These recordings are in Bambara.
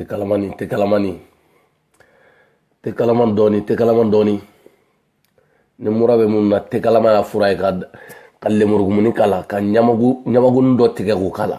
te kalamani te kalamani te kalaman dɔɔni te kalaman dɔɔni ni mura bɛ minnu na te kalaman y'a fura ye ka ka lemurukumunin k'a la ka ɲamagu ɲamagunin dɔ tigɛ k'o k'a la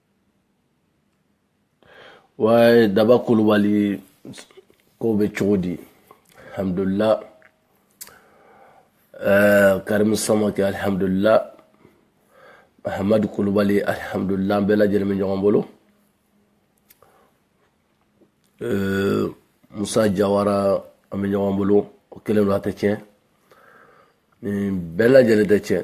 waye daba kulubali ko bɛ cogo di alhamdulillah eh, karimu samake alhamdulillah mahamadu kulubali alhamdulillah an bɛɛ lajɛlen bɛ ɲɔgɔn bolo eh, musa jawara an bɛ ɲɔgɔn bolo o kelen don a tɛ tiɲɛ nin bɛɛ lajɛlen tɛ tiɲɛ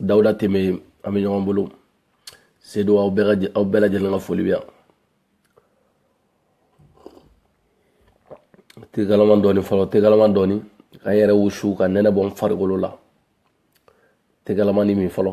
dawuda teme an bɛ ɲɔgɔn bolo sedo aw bɛɛ lajɛlen ka foli bɛ yan te kalaman dɔɔni fɔlɔ te kalaman dɔɔni ka n yɛrɛ wusu ka nɛnɛ bɔ n farikolo la te kalamani min fɔlɔ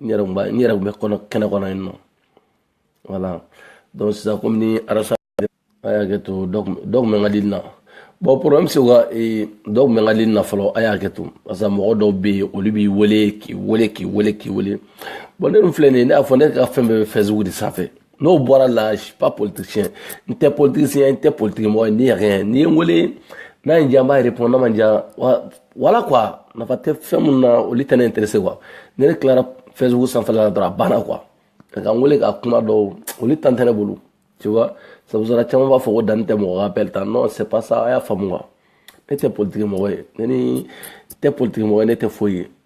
n yɛrɛ b'a n yɛrɛ bɛ kɔnɔ kɛnɛ kɔnɔ yen nɔ voilà donc sisan komi ni arasa a y'a kɛ to dɔ kun bɛ n ka dili na bon problème se ka dɔ kun bɛ n ka dili na fɔlɔ a y'a kɛ to parce que mɔgɔ dɔw bɛ yen olu b'i wele k'i wele k'i wele k'i wele bon ne dun filɛ nin ye ne y'a fɔ ne ka fɛn bɛɛ bɛ facebook de sanfɛ n'o bɔra la je suis pas politicien n tɛ politicien n tɛ politique mɔgɔ ye ne yɛrɛ n'i ye n wele n'a ye n diya n b'a répondre n'a ma n diya voilà quoi nafa tɛ fɛn minnu na olu tɛ ne intéressé quoi ni ne tilara facebook sanfɛla la dɔrɔn a banna quoi ka n wele ka kuma dɔw olu temps tɛ ne bolo tu vois sabu sara caman b'a fɔ ko dani tɛ mɔgɔ ka appel ta non c'est pas ça a y'a faamu quoi ne tɛ politique mɔgɔ ye ne n tɛ politique mɔgɔ ye ne tɛ foyi ye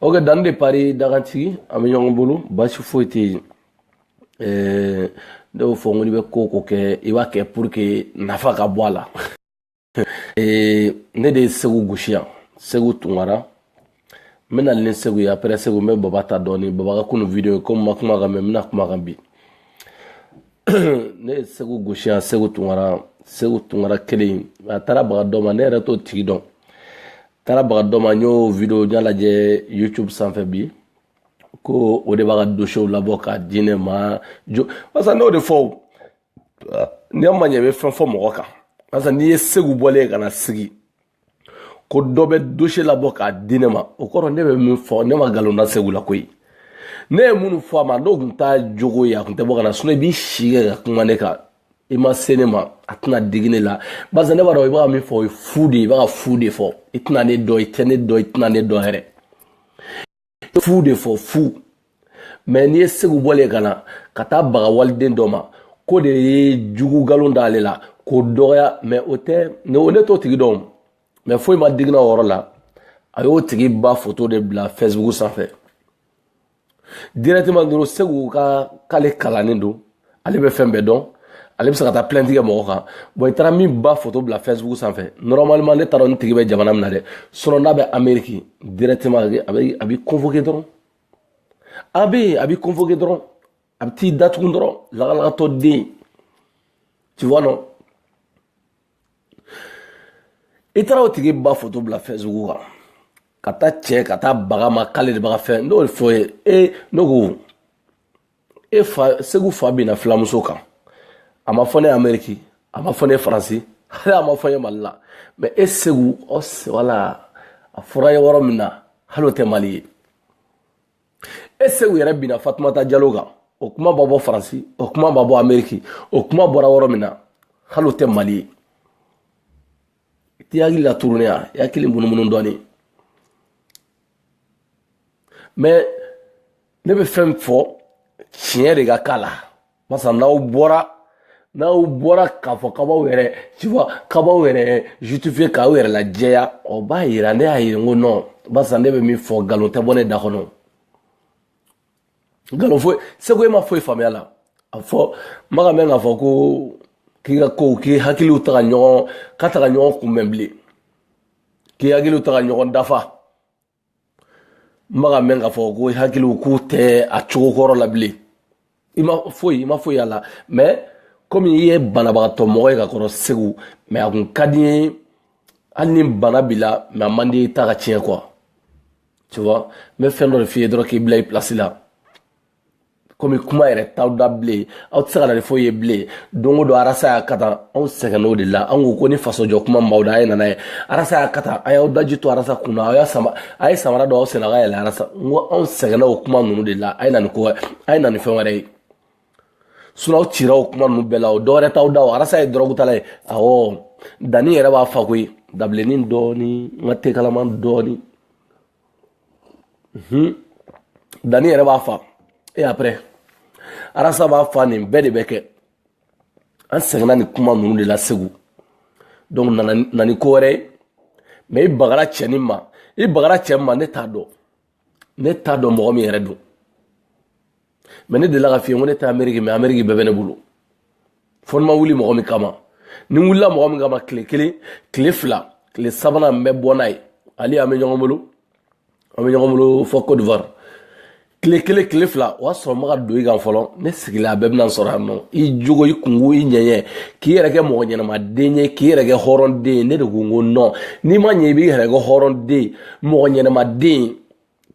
ok dani de paris dagantigi an bɛ ɲɔgɔn bolo basi foyi tɛ yen eh, ne y'o fɔ n ko n'i bɛ ko ko kɛ i b'a kɛ pour que nafa ka bɔ a la eh, ne de ye seku gosi yan seku tunkara n bɛna ni seku ye après seku n bɛ baba ta dɔɔni baba ka kunu video ye komi n ma kuma a kan mais n bɛna kuma a kan bi ne ye seku gosi yan seku tunkara seku tunkara kelen a taara baga dɔ ma ne yɛrɛ t'o tigi dɔn taara baga dɔ ma n y'o video n y'a lajɛ youtube sanfɛ bi ko o de b'a ka dosiyew labɔ k'a di ne ma jo barisa n'o de fɔ n'i ma ɲɛ i bɛ fɛn fɔ mɔgɔ kan barisa n'i ye seku bɔlen ye ka na sigi ko dɔ bɛ dosiye labɔ k'a di ne ma o kɔrɔ ne bɛ min fɔ ne ma nkalon da seku la koyi ne ye minnu fɔ a ma n'o tun t'a jogo ye a tun tɛ bɔ ka na sinɔn i b'i si kɛ ka kuma ne kan i ma se ne ma a tɛna digi ne la barisa ne b'a dɔn i bɛ ka min fɔ o ye fu de ye i bɛ ka fu de fɔ i tɛna ne dɔn i tɛ ne dɔn i tɛna ne dɔn yɛrɛ fu de fɔ fu mɛ n'i ye segu bɔlen ka na ka taa baga waliden dɔ ma k'o de ye jugu nkalon d'ale la k'o dɔgɔya mɛ o tɛ ne o ne t'o tigi dɔn mɛ foyi ma digi n na o yɔrɔ la a y'o tigi ba foto de bila facebook sanfɛ directement dɔrɔn segu ko k'ale kalannen don ale bɛ fɛn bɛɛ dɔn ale bɛ se ka taa plainte kɛ mɔgɔ kan bon i taara min ba photo bila facebook sanfɛ normalement ne t'a dɔn a tigi bɛ jamana min na dɛ sinon n'a bɛ ameriki directement a bɛ a b'i convoquer dɔrɔn a bɛ yen a b'i convoquer dɔrɔn a bɛ t'i datugu dɔrɔn lagalagatɔ den tu vois non i taara o tigi ba foto bila facebook kan ka taa cɛ ka taa bag'a ma k'ale de bɛ ka fɛn n'o fɔ ye e ne ko e fa segu fa binna filamuso kan a ma fɔ ne ye ameriki a ma fɔ ne ye faransi hali a ma fɔ ne ye mali la mɛ e segu ɔ wala a fɔra n ye yɔrɔ min na hali o tɛ mali ye e segu yɛrɛ binna fatumata jalo kan o kuma ma bɔ faransi o kuma ma bɔ ameriki o kuma bɔra yɔrɔ min na hali o tɛ mali ye i t'i hakili la tourner yan i hakili munumunu dɔɔnin mɛ ne bɛ fɛn fɔ tiɲɛ de ka k'a la masa n'aw bɔra n'aw bɔra k'a fɔ k'aw b'aw yɛrɛ cifa k'aw b'aw yɛrɛ justifier k'aw yɛrɛ lajɛya o b'a yira ne y'a ye n ko nɔn barisa ne bɛ min fɔ nkalon tɛ bɔ ne da kɔnɔ nkalon foyi segu e ma foyi faamu a la fo n bɛ k'a mɛn k'a fɔ ko k'i ka kow k'i hakiliw tɛ ka ɲɔgɔn k'u tɛ ka ɲɔgɔn kunbɛn bilen k'i hakiliw tɛ ka ɲɔgɔn dafa n bɛ k'a mɛn k'a fɔ ko i hakiliw k'u tɛ a cogo kɔrɔ la bilen i ma foyi i ma foyi y'a la mɛ komi i ye banabagatɔ mɔgɔ ye ka kɔrɔ segu mɛ a kun ka di ye hali ni bana b'i la mɛ a man di i ta ka tiɲɛ quoi tu vois n bɛ fɛn dɔ de f'i ye dɔrɔn k'i bila i pilasi la komi kuma yɛrɛ t'aw da bilen aw tɛ se ka na ni foyi ye bilen don o don arasa y'a kɛ tan anw sɛgɛnna o de la an ko ko ni fasojɔ kuma b'aw da a ye na n'a ye arasa y'a kɛ tan a y'aw daji to arasa kunna aw y'a sama a ye samara don aw sen na ka yɛlɛ arasa n ko anw sɛgɛnna o kuma ninnu de la a ye na ni ko wɛrɛ a ye na ni fɛn wɛrɛ ye sinɔn aw cira o kuma ninnu bɛɛ la o dɔwɛrɛ t'aw da o arasa ye dɔrɔgutala ye awɔ danni yɛrɛ b'a fa koyi dabilenni dɔɔni n ka tekalaman dɔɔni Hmm. danni yɛrɛ b'a fa e après arasa b'a fa nin bɛɛ de bɛ kɛ an sɛgɛnna nin kuma ninnu de la segu donc na na ni ko wɛrɛ ye mɛ i bagara cɛnin ma i bagara cɛnin ma ne t'a dɔn ne t'a dɔn mɔgɔ min yɛrɛ don mɛ ne delila k'a f'i ye ko ne tɛ ameriki mɛ ameriki bɛɛ bɛ ne bolo fo ni ma wuli mɔgɔ min kama ni n wulila mɔgɔ min kama tile kelen tile fila tile sabanan n bɛ bɔ n'a ye ale an bɛ ɲɔgɔn bolo an bɛ ɲɔgɔn bolo fo cote d'ivoire tile kelen tile fila o y'a sɔrɔ n bɛ ka don i kan fɔlɔ ne sigila a bɛɛ bɛna sɔrɔ yan nɔ i jogo i kunko i ɲɛɲɛ k'i yɛrɛ kɛ mɔgɔ ɲɛnamaden ye k'i yɛrɛ kɛ hɔrɔnden ye ne de ko n ko nɔn n'i ma ɲɛ i b'i yɛrɛ kɛ hɔrɔnden mɔgɔ ɲɛnamaden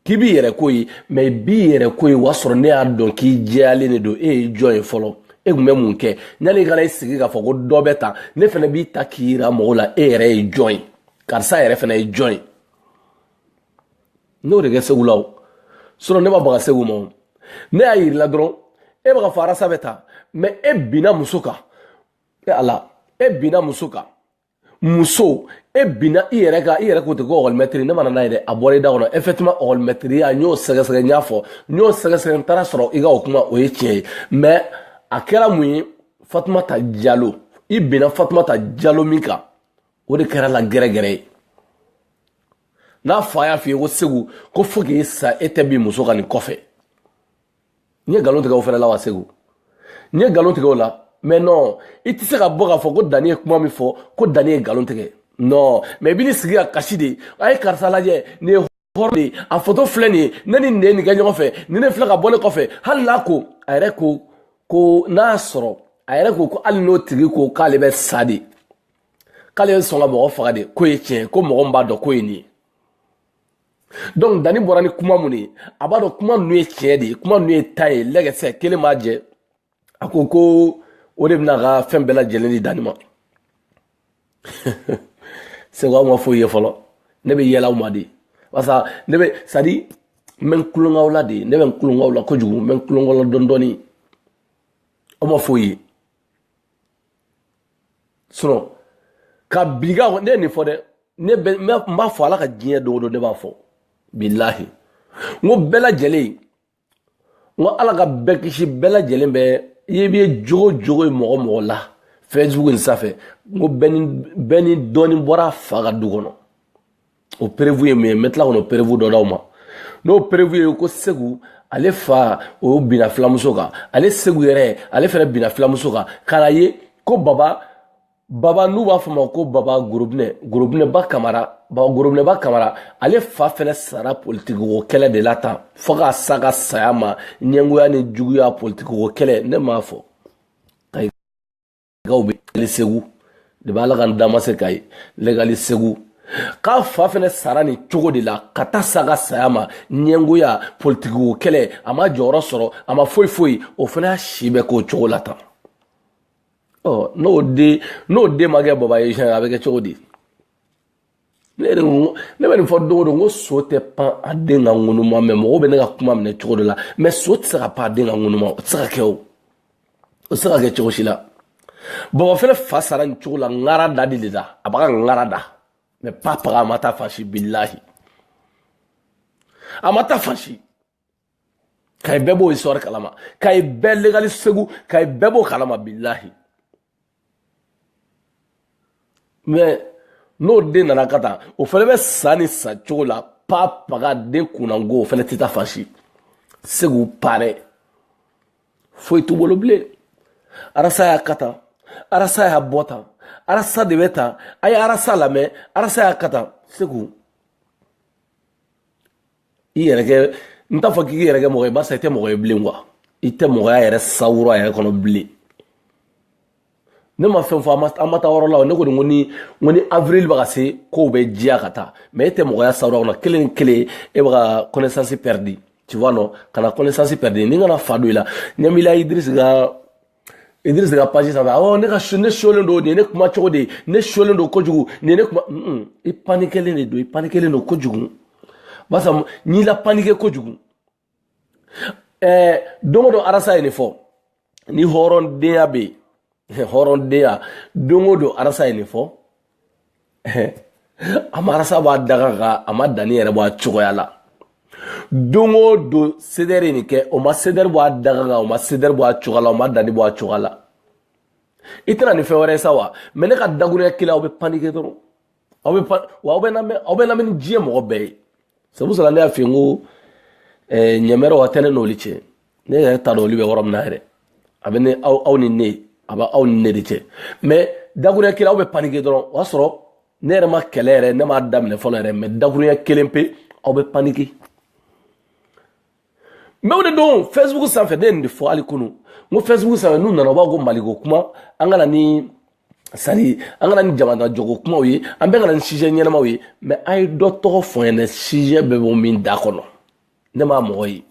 k'i b'i yɛrɛ ko ye mɛ i b'i yɛrɛ ko ye o y'a sɔrɔ ne y'a dɔn k'i jɛyalen de don e ye jɔn ye fɔlɔ e tun bɛ mun kɛ yanni i ka na i sigi k'a fɔ ko dɔ bɛ ta ne fana b'i ta k'i yira mɔgɔw la e yɛrɛ ye jɔn ye karisa yɛrɛ fana ye jɔn ye n'o de kɛ segu la o sinɔn ne ma baga segu ma o ne y'a yirila dɔrɔn e bɛ k'a fɔ arasa bɛ ta mɛ e binna muso kan e ala e binna muso kan muso e binna i yɛrɛ ka i yɛrɛ k'o tɛ ko ɔkɔlimɛtiri ne mana n'a ye dɛ a bɔra i da kɔnɔ effectivement ɔkɔlimɛtiriya n y'o sɛgɛsɛgɛ n y'a fɔ n y'o sɛgɛsɛgɛ n taara sɔrɔ i ka o kuma o ye tiɲɛ ye mais a kɛra mun ye fatumata jalo i binna fatumata jalo min kan o de kɛra la gɛrɛgɛrɛ ye n'a fa y'a f'i ye ko segu ko fo k'i sa e tɛ bin muso kan nin kɔfɛ n ye nkalon tigɛ o fɛnɛ la wa segu n ye nkalon tigɛ o la mɛ nɔn i tɛ se ka bɔ k'a fɔ ko danni ye kuma min fɔ ko danni ye nkalon tigɛ nɔn mɛ i bɛ n'i sigi ka kasi de a ye karisa lajɛ nin ye hɔrɔn de ye a foto filɛ nin ye ne ni nin de ye nin kɛ ɲɔgɔn fɛ ni ne filɛ ka bɔ ne kɔfɛ hali n'a ko a yɛrɛ ko ko n'a sɔrɔ a yɛrɛ ko ko hali n'o tigi ko k'ale bɛ sa de k'ale ye sɔn ka mɔgɔ faga de k'o ye tiɲɛ ko mɔgɔ min b'a dɔn k'o ye nin ye dɔnku danni bɔra ni kuma minnu ye a b'a dɔn kuma ninnu ye tiɲɛ de ye kuma ninnu ye ta ye lɛgɛsɛ kelen m'a jɛ a ko ko o de bɛna ka fɛn bɛɛ lajɛlen di danni ma segu aw ma foyi ye fɔlɔ ne bɛ yɛlɛ aw ma de barisa ne bɛ sadi n bɛ tulon k'aw la de ne bɛ tulon k'aw la kojugu n bɛ tulon k'aw la dɔɔni dɔɔni aw ma foyi ye sinɔn ka bi ka ne ye nin fɔ dɛ ne bɛ n b'a fɔ ala ka diɲɛ don o don ne b'a fɔ bilahi n ko bɛɛ lajɛlen n ko ala ka bɛɛ kisi bɛɛ lajɛlen bɛ i ye bɛ jogo o jogo ye mɔgɔ o mɔgɔ la facebook nin sanfɛ n ko bɛɛ ni bɛɛ ni dɔɔni bɔra a fa ka du kɔnɔ o perewu ye mun ye n bɛ tila kɔnɔ perewu dɔ d'aw ma n'o perewu ye ko segu ale fa o binna filamuso kan ale segu yɛrɛ ale fana binna filamuso kan k'a la ye ko baba baba n'u b'a f'a ma ko baba gorobinɛ gorobinɛba kamara baba gorobinɛba kamara ale fa fɛnɛ sara politikiko kɛlɛ de la tan fo ka sa ka saya ma ɲɛngoya ni juguya politikiko kɛlɛ ne m'a fɔ gaw bɛ legali segu de b'a la ka n dama se kayi legali segu k'a fa fɛnɛ sara nin cogo de la ka taa sa ka saya ma ɲɛngoya politiki o kɛlɛ a ma jɔyɔrɔ sɔrɔ a ma foyi foyi o fɛnɛ y'a si bɛɛ k'o cogo la tan ɔ n'o den n'o den ma kɛ buba ye siɲɛ a bɛ kɛ cogo di ne yɛrɛ ko ne bɛ nin fɔ don o don ko so tɛ pan a den ka ŋunuma mɛ mɔgɔw bɛ ne ka kuma minɛ cogo dɔ la mɛ so tɛ se ka pan a den ka ŋunuma o tɛ se ka kɛ o o tɛ se ka kɛ cogo si la buba fɛnɛ fa sara nin cogo la ŋara da de la a b'a ka ŋara da mɛ pa paga a ma taa fan si bilahi a ma taa fan si kayi bɛɛ b'o histoire kalama kayi bɛɛ legali segu kayi bɛɛ b'o kalama bilahi mais n'o den nana kɛ tan o fɛnɛ bɛ sa nin sa cogo la pa paga den kunnango o fɛnɛ tɛ taa fan si segu parɛ foyi t'u bolo bilen arasa y'a kɛ tan arasa y'a bɔ tan arasa de bɛ tan a ye arasa lamɛn arasa y'a kɛ tan segu i yɛrɛ kɛ n t'a fɔ k'i yɛrɛ kɛ mɔgɔ ye barisa i tɛ mɔgɔ ye bilen quoi i tɛ mɔgɔya yɛrɛ sawura yɛrɛ kɔnɔ bilen ne ma fɛn fɔ an ma taa yɔrɔ la ne kɔni ko ni ko ni avril bɛ ka se kow bɛ diya ka taa mɛ e tɛ mɔgɔya sawura kɔnɔ kelen kelen e bɛ ka connaissance perdre tu vois non kana connaissance perdre ne kana fa don i la ɲɛmila idris ka Idris ka page sanfɛ awɔ ne ka ne sulen don nin ye ne kuma cogo de ye ne sulen don kojugu nin ye ne kuma i panikɛlen de don i panikɛlen don kojugu barisa n'i la panikɛ kojugu ɛɛ don o don arasa ye nin fɔ ni hɔrɔndenya bɛ yen hɔrɔndenya don o don arasa ye nin fɔ a ma arasa bɔ a daga kan a ma danni yɛrɛ bɔ a cogoya la don o don sedɛri ye nin kɛ o ma sedɛri bɔ a daga kan o ma sedɛri bɔ a cogoya la o ma danni bɔ a cogoya la i tɛna nin fɛn wɛrɛ ye sa wa mɛ ne ka dakuruya kelen aw bɛ panike dɔrɔn aw bɛ pan wa aw bɛ lamɛn aw bɛ lamɛn ni diɲɛ mɔgɔ bɛɛ ye sabu sɔrɔ ne y'a f'i ye n ko ɲɛmɛrɛ wa tɛ ne n'olu cɛ ne yɛrɛ t'a dɔn olu bɛ yɔrɔ min na yɛrɛ a bɛ ne aw aw ni ne a bɛ aw ni ne de cɛ mɛ dakuruya kelen aw bɛ panike dɔrɔn o y'a sɔrɔ ne yɛrɛ ma kɛlɛ yɛrɛ ne m'a daminɛ fɔlɔ yɛrɛ mɛ dakuruya kelen pe aw bɛ panike mɛ o de don facebook sanfɛ ne ye nin de fɔ hali kunu n ko facebook sanfɛ n'u nana u b'a ko maliko kuma an ka na ni sari an ka na ni jamana jɔko kumaw ye an bɛɛ ka na ni sijɛ ɲɛnamaw ye mɛ a ye dɔ tɔgɔ fɔ n ɲɛna sijɛ bɛ bɔ min da kɔnɔ ne ma mɔgɔ ye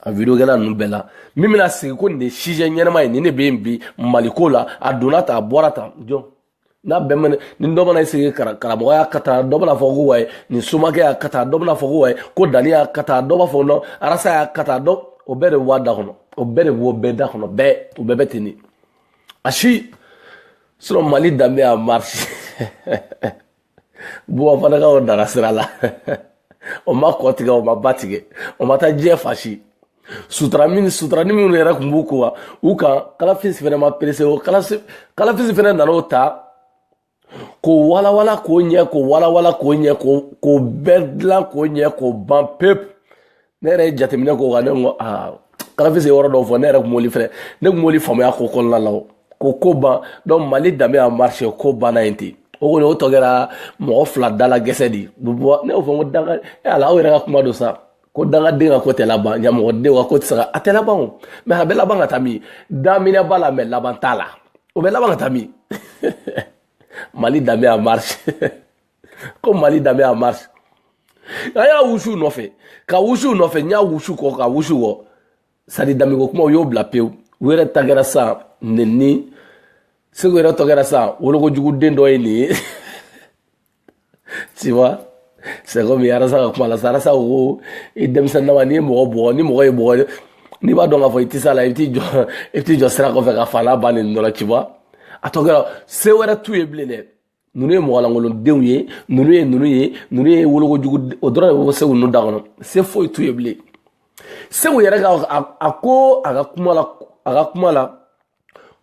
a videokɛla ninnu bɛɛ la min bɛna sigi ko nin de sijɛ ɲɛnama ye nin de bɛ yen bi maliko la a donna tan a bɔra tan jɔn n'a bɛɛ mana ni dɔ mana sigi karamɔgɔ y'a kɛ tan dɔ bɛna fɔ ko wayi nin somakɛ y'a kɛ tan dɔ bɛna fɔ ko wayi ko dani y'a kɛ tan dɔ b'a fɔ non arasa y'a kɛ tan dɔ o bɛɛ de bɛ bɔ a da kɔnɔ o bɛɛ de bɛ bɔ bɛɛ da kɔnɔ bɛɛ o bɛɛ bɛ ten de a si sinon mali danbe en marche buba fane ka ko nana sira la o ma kɔ tigɛ o ma ba tigɛ o ma taa diɲɛ fan si sutura min sutura ni minnu yɛrɛ tun b'u ko wa u kan kalafisi fana ma perese o kalafisi fana nana o ta k'o walawala k'o ɲɛ k'o walawala k'o ɲɛ k'o bɛɛ dilan k'o ɲɛ k'o ban pewu ne yɛrɛ ye jateminɛ k'o kan ne ko aa kalafisi ye yɔrɔ dɔw fɔ ne yɛrɛ kun b'oli fɛnɛ ne kun b'oli faamaya ko kɔnɔna la o ko ko ban donc mali danbe en marche ko banna yen ten o kɔni o tɔ kɛra mɔgɔ fila dala gɛsɛ de bɔ ne y'o fɔ ko danga e ala aw yɛrɛ ka kuma don sa ko dangaden ka ko tɛ laban nka mɔgɔden ka ko tɛ se ka a tɛ laban o mɛ a bɛ laban ka taa min daminɛ b'a la mɛ laban t'a la o bɛ laban ka taa min mali danbe en marche ko mali danbe en marche a y'a wusu nɔfɛ ka wusu nɔfɛ n y'a wusu kɔ ka wusu kɔ c'est-à-dire danbeko kuma u y'o bila pewu u yɛrɛ tɔ kɛra sa nenni segu yɛrɛ tɔ kɛra sa wolokojuguden dɔ ye nin ye tu vois c'est comme arasa ka kuma la sa arasa ko i denmisɛnninlama n'i ye mɔgɔ bugɔ ni mɔgɔ y'i bugɔ n'i b'a dɔn k'a fɔ i tɛ se a la i bɛ t'i jɔ i bɛ t'i jɔ sira kɔfɛ ka fa n'a ba neni dɔ la tu vois a tɔ kɛra se wɛrɛ t'u ye bilen dɛ ninnu ye mɔgɔlankolodenw ye ninnu ye ninnu ye ninnu ye wolokojugu o dɔrɔn de bɛ bɔ segu ninnu da kɔnɔ se foyi t'u ye bilen segu yɛrɛ ka a ko a ka kuma la a ka kuma la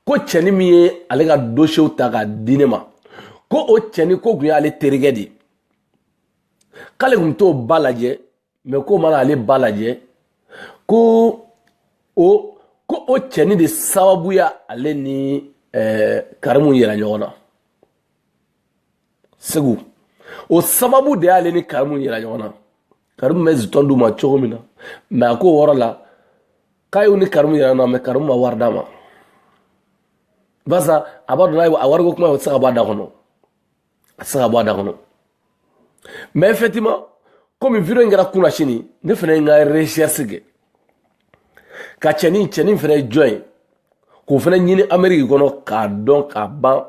ko cɛni min ye ale ka dosiyew ta k'a di ne ma ko o cɛni ko tun y'ale terikɛ de ye k'ale tun bɛ t'o ba lajɛ mɛ k'o ma na ale ba lajɛ ko o ko o cɛni de sababu y'ale ni eh, karimu yɛlɛ ɲɔgɔn na segu o sababu de y'ale ni karimu yɛlɛ ɲɔgɔn na karimu bɛ zitɔn d'u ma cogo min na mɛ a ko wɔrɔ la k'a y'u ni karimu yɛlɛ na mɛ karimu ma wari d'a ma barisa a b'a dɔn n'a ye a wariko kuma o tɛ se ka bɔ a da kɔnɔ a tɛ se ka bɔ a da kɔnɔ mɛ effectivement komi video in kɛra kunasini ne fana ye n ka recherche kɛ ka cɛnin cɛnin fana ye jɔn ye k'o fana ɲini ameriki kɔnɔ k'a dɔn k'a ban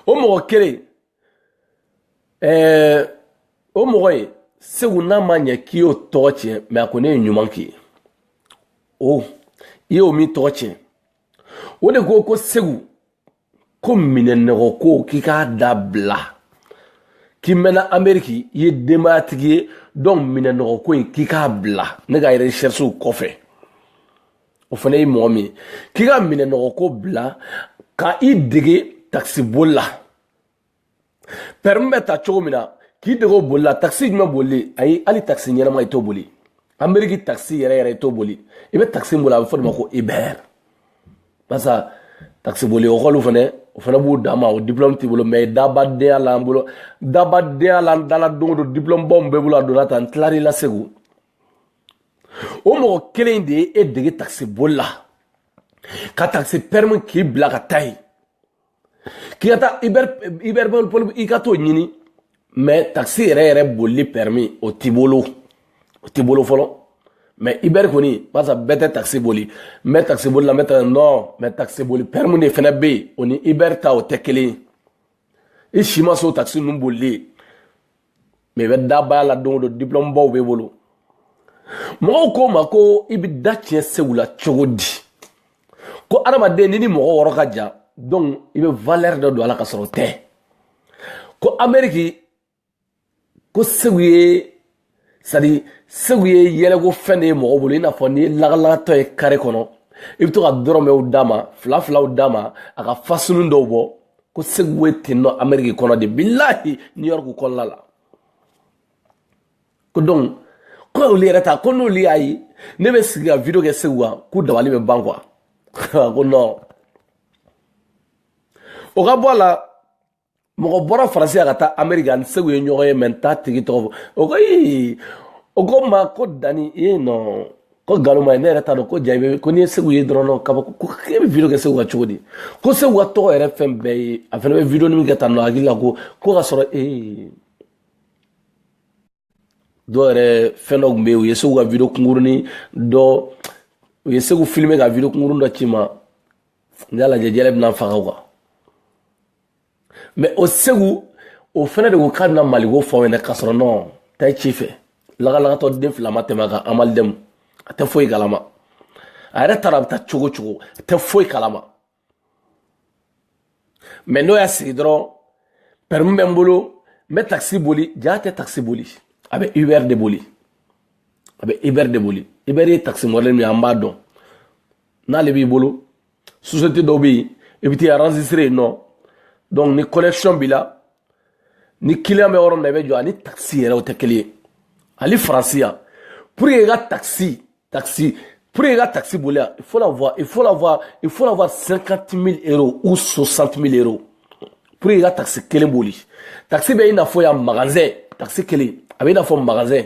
o mɔgɔ kelen ɛɛ eh, o mɔgɔ ye segu n'a ma ɲɛ k'i y'o tɔgɔ tiɲɛ mɛ a kɔni ye ɲuman k'i ye o i y'o min tɔgɔ tiɲɛ o de ko ko segu ko minɛnnɔgɔ ko k'i k'a dabila k'i mɛnna ameriki i ye denbayatigi ye donc minɛnnɔgɔ ko in k'i k'a bila ne ka recherchew kɔfɛ o fana ye mɔgɔ min ye k'i ka minɛnnɔgɔ ko bila ka i dege takisiboli la pɛrɛmu bɛ ta cogo min na k'i dege o boli la takisi jumɛn bolili ayi hali takisi ɲɛnama i t'o boli ameriki takisi yɛrɛ yɛrɛ i t'o boli i bɛ takisi boli a bɛ fɔ de ma ko uber barisa takisi boli ekɔliw fɛnɛ o fɛnɛ b'u dan ma o diplɔmu t'i bolo mɛ dabadenya la an bolo dabadenya la an dala don o don diplɔmu baw min b'e bolo a donna tan n tilar'i la segu o mɔgɔ kelen de ye e dege takisi boli la ka takisi pɛrɛmu k'i bila ka taa yen k'i ka taa uber boli i ka t'o ɲini mɛ takisi yɛrɛ yɛrɛ bolili pɛrɛmi o t'i bolo o t'i bolo fɔlɔ mɛ uber kɔni barisa bɛɛ tɛ takisi boli n bɛ takisi boli la n bɛ taa nɔ mɛ takisi boli pɛrɛmu de fɛnɛ bɛ yen o ni uber ta o tɛ kelen ye i si ma se o takisi ninnu bolili ye mɛ i bɛ dabaya la don o don diplɔmu baw b'e bolo mɔgɔw ko n ma ko i bɛ da tiɲɛ segu la cogo di ko adamaden n'i ni mɔgɔ yɔrɔ ka jan donc i bɛ valeur dɔ don a la ka sɔrɔ o tɛ ko ameriki ko segu ye sadi segu ye yɛlɛko fɛn de ye mɔgɔ bolo i n'a fɔ n'i ye lagalagatɔ ye kare kɔnɔ i bɛ to ka dɔrɔmɛw d'a ma fila filaw d'a ma a ka fasunu dɔw bɔ ko segu ye ten nɔ ameriki kɔnɔ de bilahi new york kɔnɔna la ko donc ko olu yɛrɛ ta ko n'olu y'a ye ne bɛ sigi ka video kɛ segu kan k'u dabali bɛ ban quoi ko non o ka bɔ a la mɔgɔ bɔra faransi a ka taa ameriki ani segu ye ɲɔgɔn ye mɛ n t'a tigi tɔgɔ fɔ o ko ii o ko n ma ko dani ee non ko nkalon ma ye ne yɛrɛ t'a dɔn ko ja bɛ ko n'i ye segu ye dɔrɔn kabako e bɛ video kɛ segu kan cogo di ko segu ka tɔgɔ yɛrɛ fɛn bɛɛ ye a fana bɛ video ni min kɛ tan nɔ hakili la ko ko ka sɔrɔ ee dɔw yɛrɛ fɛn dɔ tun bɛ yen u ye segu ka video kunkurunin dɔ u ye segu filime ka video kunkurunin dɔ ci n ma n y'a lajɛ yɛlɛ bɛna n faga o kan mɛ o segu o fana de ko k'a bɛna maliko fɔ aw ɲɛna ka sɔrɔ nɔ ta ye ci fɛ lagalagatɔ den fila ma tɛmɛ a kan amalidɛmu a tɛ foyi kalama a yɛrɛ taara a bɛ taa cogo cogo a tɛ foyi kalama mɛ n'u y'a sigi dɔrɔn pɛrɛmu bɛ n bolo n bɛ takisi boli jaa tɛ takisi boli a bɛ uber de boli a bɛ uber de boli uber ye takisi mɔdɛli min ye an b'a dɔn n'ale b'i bolo sosiyete dɔw bɛ yen i bɛ t'i enregistrer yen nɔ donc ni connexion b'i la ni client bɛ yɔrɔ min na i bɛ jɔ ani taxi yɛrɛ o tɛ kelen ye hali faransi yan pour que i ka taxi taxi pour que i ka taxi boli yan il faut avoir il faut avoir il faut avoir 50 000 euros ou 60 000 euros pour que i ka taxi kelen boli taxi bɛ i n'a fɔ yan magasin taxi kelen a bɛ i n'a fɔ magasin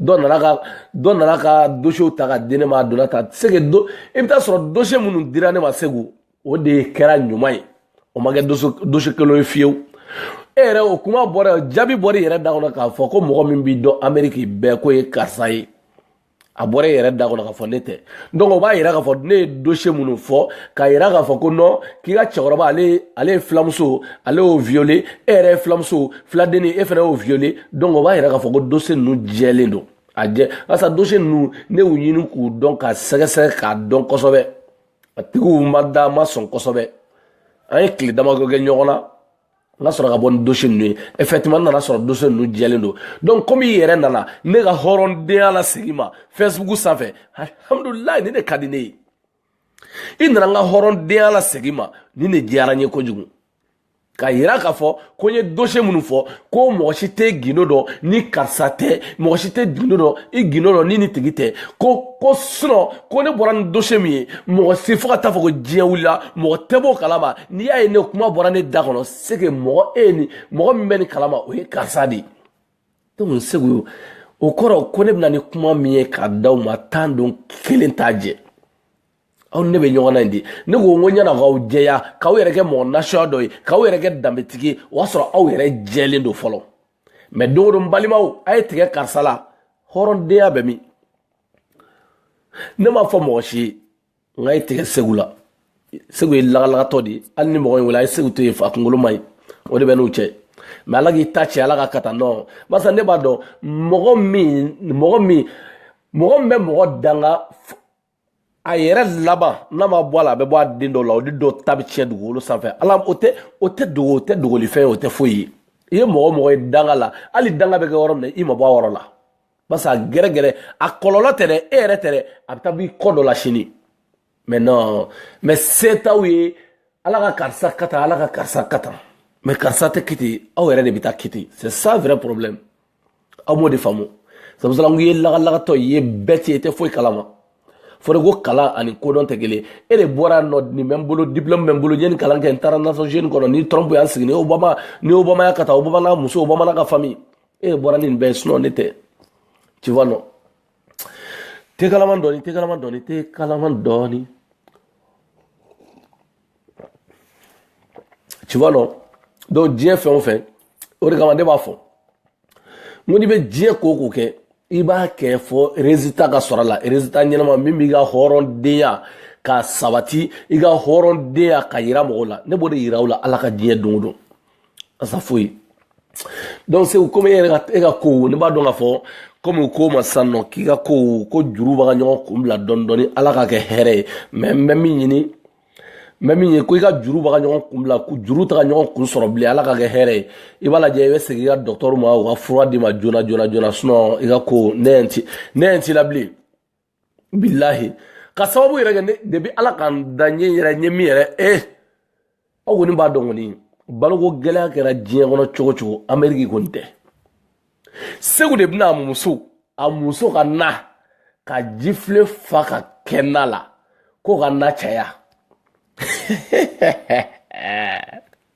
dɔ nana ka dɔ nana ka dossierw ta ka di ne ma a donna ta c'est que donc i bɛ t'a sɔrɔ dossier minnu dira ne ma seku o de kɛra ɲuman ye o ma kɛ dossier kelen ye fiyewu e yɛrɛ o kuma bɔra jaabi bɔra i yɛrɛ da kɔnɔ k'a fɔ ko mɔgɔ min b'i dɔn ameriki bɛɛ k'o ye karisa ye a bɔra e yɛrɛ da kɔnɔ k'a fɔ ne tɛ donc o b'a yira k'a fɔ ne ye dossier minnu fɔ k'a yira k'a fɔ ko non k'i ka cɛkɔrɔba ale ale ye filamuso ale y'o violer e yɛrɛ ye filamuso filadenni e fana y'o violer donc o b'a yira k'a fɔ ko dossier ninnu jɛlen don a jɛ barisa dossier ninnu ne y'u ɲini k'u dɔn k'a sɛgɛsɛgɛ k'a dɔn kosɛbɛ a tigiw ma da ma sɔn kosɛbɛ an ye tile damadɔ kɛ ɲɔgɔn na n ka sɔrɔ ka bɔ ni dossier ninnu ye effectivement n nan'a sɔrɔ dossier ninnu jɛlen don donc komi i yɛrɛ nana ne ka hɔrɔndenya lasegin n ma facebook sanfɛ alhamdulilayi nin ka di ne ye i nana n ka hɔrɔndenya lasegin n ma nin diyara n ye kojugu k'a yira k'a fɔ ko n ye dossier minnu fɔ ko mɔgɔ si tɛ gundo dɔn ni karisa tɛ mɔgɔ si tɛ gundo dɔn i gundo dɔn ni nin tigi tɛ ko ko sinon ko ne bɔra ni dossier min ye mɔgɔ si fo ka taa fɔ ko diɲɛ wulila mɔgɔ tɛ b'o kalama n'i y'a ye ne kuma bɔra ne da kɔnɔ c'est que mɔgɔ e ni mɔgɔ min bɛ nin kalama o ye karisa de ye donc seku o kɔrɔ ko ne bɛ na ni kuma min ye k'a d'aw ma tan don kelen t'a jɛ aw ne bɛ ɲɔgɔn na in di ne ko n ko ɲɛna k'aw jɛya k'aw yɛrɛ kɛ mɔgɔ nasuya dɔ ye k'aw yɛrɛ kɛ danbetigi ye o y'a sɔrɔ aw yɛrɛ jɛlen don fɔlɔ mais don o don balimaw a ye tigɛ karisa la hɔrɔndenya bɛ min ne m'a fɔ mɔgɔ si ye n ka ye tigɛ seku la seku ye lagalagatɔ de ye hali ni mɔgɔ in wele a ye seku to yen fa kunkolo ma ye o de bɛ n'u cɛ mais ala k'i ta cɛ ala ka kata nɔ barisa ne b'a dɔn mɔgɔ min mɔgɔ min mɔgɔ min bɛ mɔgɔ danga a yɛrɛ laban n'a ma bɔ a la a bɛ bɔ a den dɔw la o de dɔw ta bɛ tiɲɛ dugukolo sanfɛ ala o tɛ o tɛ dogo o tɛ dogolifɛn ye o tɛ foyi ye i ye mɔgɔ mɔgɔ ye danga la hali danga bɛ kɛ yɔrɔ min na i ma bɔ a yɔrɔ la parce que a gɛrɛgɛrɛ a kɔlɔlɔ tɛ dɛ e yɛrɛ tɛ dɛ a bɛ taa b'i kɔ dɔ la sini mais non mais se t'aw ye ala ka karisa ka tan ala ka karisa ka tan mais karisa tɛ kiti aw yɛrɛ de bɛ taa kiti c'est ça vrai problème aw b'o de faamu sabula n ye lagalagatɔ ye bɛɛ tɛ i tɛ foyi kalama fɔra ko kalan ani kodɔn tɛ kelen e de bɔra nɔ nin bɛ n bolo diplɔmu bɛ n bolo n ye nin kalan kɛ n taara nations unies kɔnɔ ni trump y'an sigi ni obama ni obama y'a ka taa obama n'a muso obama n'a ka fami e de bɔra nin bɛɛ sinɔn ne tɛ tu vois non tɛ kalaman dɔɔni tɛ kalaman dɔɔni tɛ kalaman dɔɔni tu vois non donc diɲɛ fɛn o fɛn o de kama ne b'a fɔ n ko n'i bɛ diɲɛ ko o ko kɛ i b'a kɛ fɔ résultat ka sɔrɔ a la résultat ɲɛnama min b'i ka hɔrɔndenya ka sabati i ka hɔrɔndenya ka yira mɔgɔw la ne b'o de yira u la ala ka diɲɛ don o don asa foyi donc seku komi e ka e ka kow ne b'a dɔn k'a fɔ komi u ko ma sisan nɔ k'i ka kow ko juru bɛ ka ɲɔgɔn kun bila dɔɔni dɔɔni ala ka kɛ hɛrɛ ye mɛ n bɛ min ɲini n bɛ min ye ko i ka juru bɛ ka ɲɔgɔn kun bila juru tɛ ka ɲɔgɔn kun sɔrɔ bilen ala ka kɛ hɛrɛ ye i b'a lajɛ i bɛ segin i ka dɔgɔtɔrɔ ma u ka fura d'i ma joona joona joona sinɔn i ka ko ne yɛrɛ t'i ne yɛrɛ t'i la bilen bilahi ka sababu yɛrɛ kɛ ne depi ala ka n da ɲɛ yɛrɛ ɲɛ min yɛrɛ e eh, aw kɔni b'a dɔn kɔni baloko gɛlɛya kɛra diɲɛ kɔnɔ cogo o cogo ameriki kɔni tɛ seku de bɛna a muso a muso ka na ka jifilen fa ka kɛ na la ko ka na caya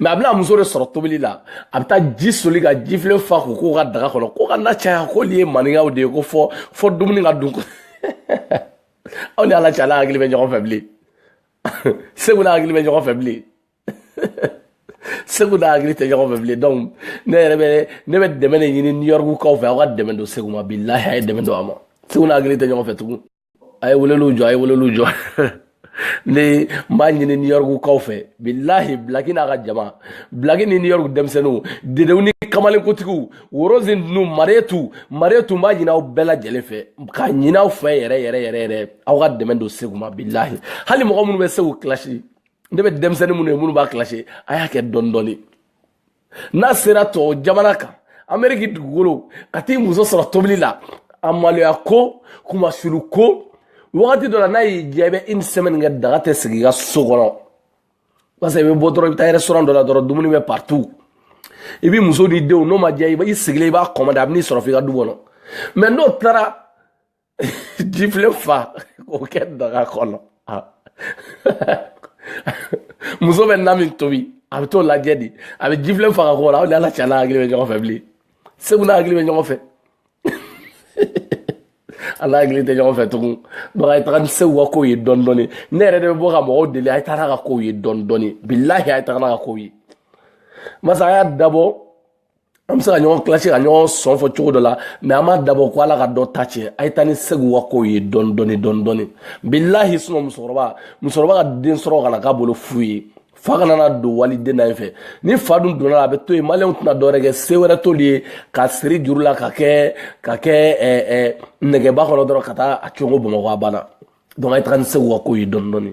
mɛ a bɛ n'a muso de sɔrɔ tobili la a bɛ taa ji soli ka jifilen fa k'o k'u ka daga kɔnɔ ko ka na caya ko nin ye maninkaw de ye ko fɔ fɔ dumuni ka dun aw ni ala cɛ a n'a hakili bɛ ɲɔgɔn fɛ bilen seku n'a hakili bɛ ɲɔgɔn fɛ bilen seku n'a hakili tɛ ɲɔgɔn fɛ bilen donc ne yɛrɛ bɛ ne bɛ dɛmɛ de ɲini new york kaw fɛ aw ka dɛmɛ don seku ma bilahi a ye dɛmɛ don a ma seku n'a hakili tɛ ɲɔgɔn fɛ tugun a ye weleliw jɔ a ye weleliw jɔ ne n b'a ɲini new york kaw fɛ bilahi bilaki n'a ka jama bilaki ni new york denmisɛnninw dedenw ni kamalenkotigiw worozin ninnu maretu maretu n b'a ɲini aw bɛɛ lajɛlen fɛ k'a ɲini aw fɛ yɛrɛ yɛrɛ yɛrɛ yɛrɛ aw ka dɛmɛ don seku ma bilahi hali mɔgɔ minnu bɛ seku kilasi ne bɛ denmisɛnnin minnu ye minnu b'a kilasi a y'a kɛ dɔɔni dɔɔni n'a sera tɔw jamana kan ameriki dugukolo ka t'i muso sɔrɔ tobili la a maloya ko kumasuru ko wagati dɔ la n'a y'i diya i bɛ une semaine kɛ daga tɛ sigi i ka so kɔnɔ parce que i bɛ bɔ dɔrɔn i bɛ taa restaurant dɔ la dɔrɔn dumuni bɛ partout i b'i muso n'i denw n'o ma diya i sigilen i b'a commander a bɛ n'i sɔrɔ f'i ka du kɔnɔ mɛ n'o taara jifilen fa k'o kɛ daga kɔnɔ muso bɛ na min tobi a bɛ t'o lajɛ de a bɛ jifilen fa ka k'o la aw ni ala cɛ n'a hakili bɛ ɲɔgɔn fɛ bilen seku n'a hakili bɛ ɲɔgɔn fɛ a n'a hakili tɛ ɲɔgɔn fɛ tugun donc a ye taga ni seku ka kow ye dɔɔni dɔɔni ne yɛrɛ de bɛ bɔ ka mɔgɔw deli a ye taga n'a ka kow ye dɔɔni dɔɔni bilahi a ye taga n'a ka kow ye masa a y'a dabɔ an bɛ se ka ɲɔgɔn kilasi ka ɲɔgɔn sɔn fɔ cogo dɔ la mɛ an m'a dabɔ ko ala ka dɔ ta tiɲɛ a ye taa ni segu ka kow ye dɔɔni dɔɔni dɔɔni dɔɔni bilahi sinɔ musokɔrɔba musokɔrɔba ka den sɔrɔ kana k'a bolo fu ye fa kana na don waliden na ye fɛ ni fa dun donna a bɛ to yen maliyɛnw tɛna dɔwɛrɛ kɛ se wɛrɛ t'olu ye ka siri juru la ka kɛ ka kɛ ɛɛ ɛɛ nɛgɛba kɔnɔ dɔrɔn ka taa a cogo bamakɔ a banna donc a ye taga ni segu ka kow ye dɔɔni dɔɔni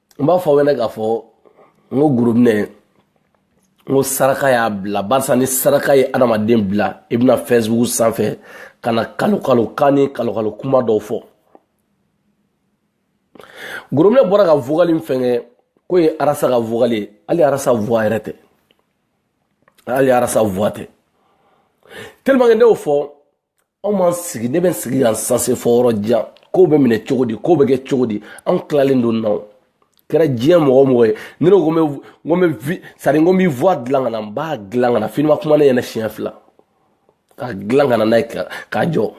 n b'a fɔ aw ɲɛna k'a fɔ n ko gorobinɛ n ko saraka y'a bila barisa ni saraka ye adamaden bila i bɛna fɛsibugu sanfɛ ka na kalon kalon kan ni kalon kalon kuma dɔw fɔ gorobinɛ bɔra ka vokali min fɛnkɛ k'o ye arasa ka vokali ye hali arasa vuwa yɛrɛ tɛ hali arasa vuwa tɛ telimakɛ ne y'o fɔ anw ma sigi ne bɛ n sigi yan sanse fɔ yɔrɔ jan kow bɛ minɛ cogo di kow bɛ kɛ cogo di anw tilalen don n'aw kɛra diɲɛ mɔgɔ o mɔgɔ ye ne ko n bɛ vi sari n ko n bɛ voix dilan ka na n b'a dilan ka na fini ma kuma ne ɲɛna siɲɛ fila k'a dilan ka na n'a ye k'a jɔ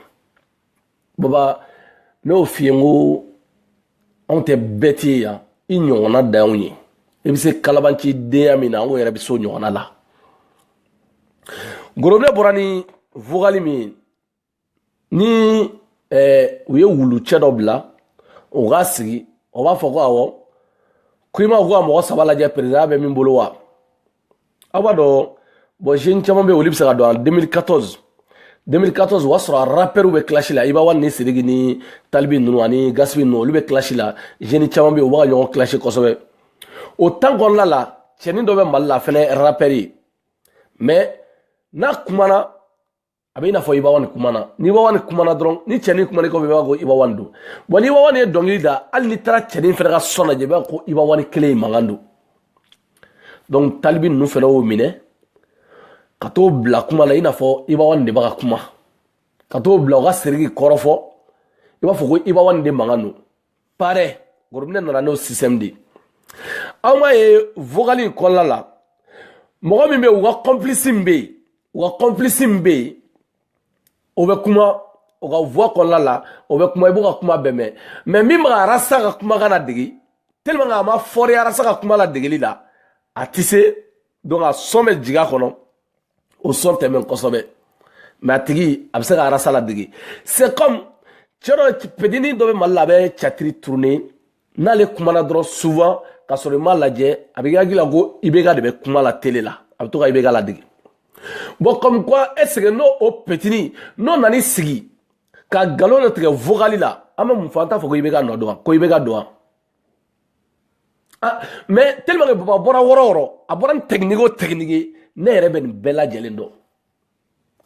baba ne y'o f'i ye n ko anw tɛ bɛɛ tɛ yan i ɲɔgɔnna danw ye i bɛ se kalabanci denya min na anw yɛrɛ bɛ se o ɲɔgɔnna la gorobinɛ bɔra ni vogali min ye ni eh, u ye wulucɛ dɔ bila o ka sigi o b'a fɔ ko awɔ ko imamu ko ka mɔgɔ saba lajɛ perezida bɛ min bolo wa aw b'a dɔn bɔn jeune caman bɛ olu bɛ se k'a dɔn a 2014 2014 o y'a sɔrɔ a rapɛriw bɛ kilasi la iba one ni siriki ni tal b ninnu ani gaspi ninnu olu bɛ kilasi la jeune caman bɛ yen u bɛ ka ɲɔgɔn kilasi kosɛbɛ o tan kɔnɔna la cɛnin dɔ bɛ mali la fɛnɛ rapɛri ye mɛ n'a kumana a bɛ i n'a fɔ iba one kumana ni iba one kumana dɔrɔn ni cɛnin kumana kɔfɛ i b'a ko iba one don wa ni iba one ye dɔnkili da hali n'i taara cɛnin fana ka sɔn lajɛ i b'a ko iba one kelen in mankan don donc tal b ninnu fana y'o minɛ ka t'o bila kuma la i n'a fɔ iba one de bɛ ka kuma ka t'o bila o ka siriki kɔrɔfɔ i b'a fɔ ko iba one de mankan don parɛ gorobinɛ nana n'o système de aw m'a ye vogali in kɔnɔna la mɔgɔ min bɛ u ka kɔnpilisi min bɛ yen u ka kɔnpilisi min bɛ yen o bɛ kuma o ka voix kɔnɔna la o bɛ kuma i b'o ka kuma bɛɛ mɛn mɛ min bɛ ka arasa ka kumakan ladege tellement a ma fɔri arasa ka kuma ladegeli la a tɛ se donc a sɔn bɛ jigin a kɔnɔ o sɔn tɛ mɛn kosɛbɛ mɛ a tigi a bɛ se ka arasa ladege c'est comme cɛ dɔ petini dɔ bɛ mali la a bɛ catiri turune n'ale kumana dɔrɔn souvent ka sɔrɔ i m'a lajɛ a bɛ k'i hakili la ko ibeka de bɛ kuma la tele la a bɛ to ka ibeka ladege bon comme quoi est ce que n'o petini n'o nan'i sigi ka galon dɔ tigɛ vocal la an bɛ mun fɔ an t'a fɔ ko ibeka nɔ don wa ko ibeka don wa Ah, mais tellement que baba bɔra wɔrɔ wɔrɔ a bɔra ni tɛkiniki o tɛkiniki ne yɛrɛ bɛ nin bɛɛ lajɛlen dɔn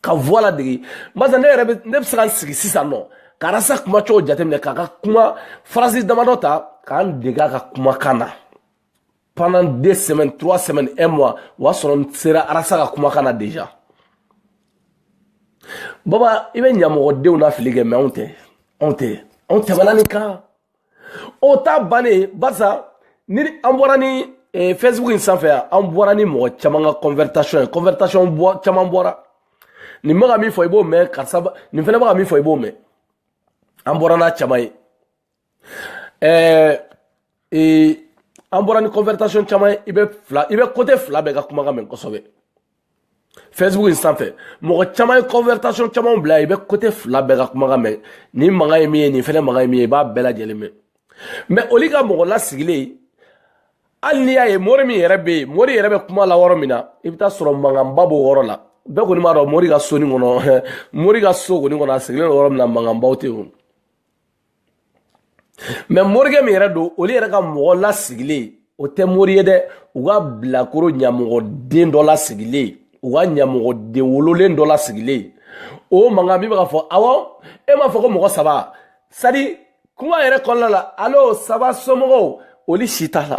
ka voix ladege barisa ne yɛrɛ bɛ ne bɛ se ka n sigi sisan nɔ ka rasta kuma cogo jateminɛ k'a ka kuma phrase damadɔ ta ka n dege a ka kumakan na pendant deux semaines trois semaines un mois o y'a sɔrɔ n sera rasta ka kumakan na déjà baba i bɛ ɲamɔgɔdenw nafili kɛ mais anw tɛ anw tɛ anw tɛmɛna nin kan o ta bannen barisa ni an bɔra ni eh, facebook in sanfɛ yan an bɔra ni mɔgɔ caman ka conversation ye conversation bɔ caman bɔra nin bɛ ka min fɔ i b'o mɛn karisa nin fana bɛ ka min fɔ i b'o mɛn an bɔra n'a caman ye ɛɛ ee an bɔra ni conversation caman ye i bɛ fila i bɛ côté fila bɛɛ ka kumakan mɛn kosɛbɛ facebook in sanfɛ mɔgɔ caman ye conversation caman bila i bɛ côté fila bɛɛ ka kumakan mɛn nin makan ye min ye nin fɛnɛ makan ye min ye i b'a bɛɛ lajɛlen mɛn mais olu ka mɔgɔ lasigilen hali n'i y'a ye mori min yɛrɛ bɛ yen mori yɛrɛ bɛ kuma la yɔrɔ min na i bɛ taa sɔrɔ mankanba b'o yɔrɔ la bɛɛ kɔni b'a dɔn mori ka so nin kɔnɔ mori ka so kɔni kɔnɔ a sigilen don yɔrɔ min na mankanbaw tɛ yen mais morikɛ min yɛrɛ don olu yɛrɛ ka mɔgɔ lasigilen o tɛ mori ye dɛ u ka bilakoro ɲamɔgɔden dɔ lasigilen u ka ɲamɔgɔden wololen dɔ lasigilen o mankan min bɛ ka fɔ awɔ e m'a fɔ ko mɔgɔ saba sadi kuma yɛrɛ kɔnɔna la allô ça va somɔgɔw olu si t'a la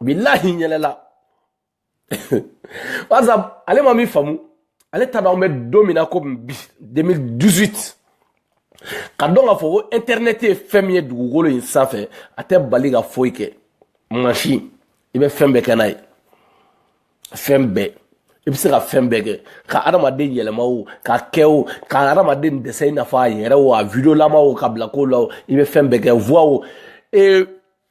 bilahi yɛlɛla barisa ale ma min faamu ale t'a dɔn an bɛ don min na ko bi 2018 k'a dɔn k'a fɔ ko intɛrinɛti ye fɛn min ye dugukolo in sanfɛ a tɛ bali ka foyi kɛ mansin i bɛ fɛn bɛɛ kɛ n'a ye fɛn bɛɛ i bɛ se ka fɛn bɛɛ kɛ ka adamaden yɛlɛma o ka kɛ o ka adamaden dessin i n'a fɔ a yɛrɛ o a videolama o k'a bila ko la o i bɛ fɛn bɛɛ kɛ voix o ee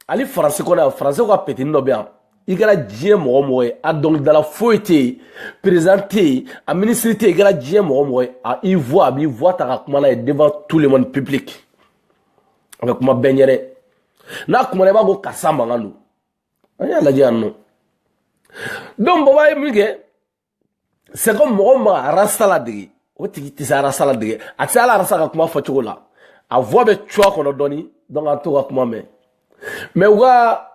hali faransi kɔnɔ yan faransi ka petinin dɔ bɛ yan i kɛra diɲɛ mɔgɔ mɔgɔ ye a dɔnkilidala foyi tɛ yen président tɛ yen a minisiri tɛ yen i kɛra diɲɛ mɔgɔ mɔgɔ ye a i voix a b'i voix ta ka kuma n'a ye devant tout le monde public a bɛ kuma bɛɛ ɲɛ dɛ n'a kumana i b'a ko karisa mankan don an y'a lajɛ yan nɔ donc baba ye min kɛ c'est comme mɔgɔ min bɛ ka rasta ladege o tigi tɛ se rasta ladege a tɛ se hali rasta ka kuma fɔcogo la a voix bɛ cuwa kɔnɔ dɔɔni donc an t'o ka kuma mɛn mais u ka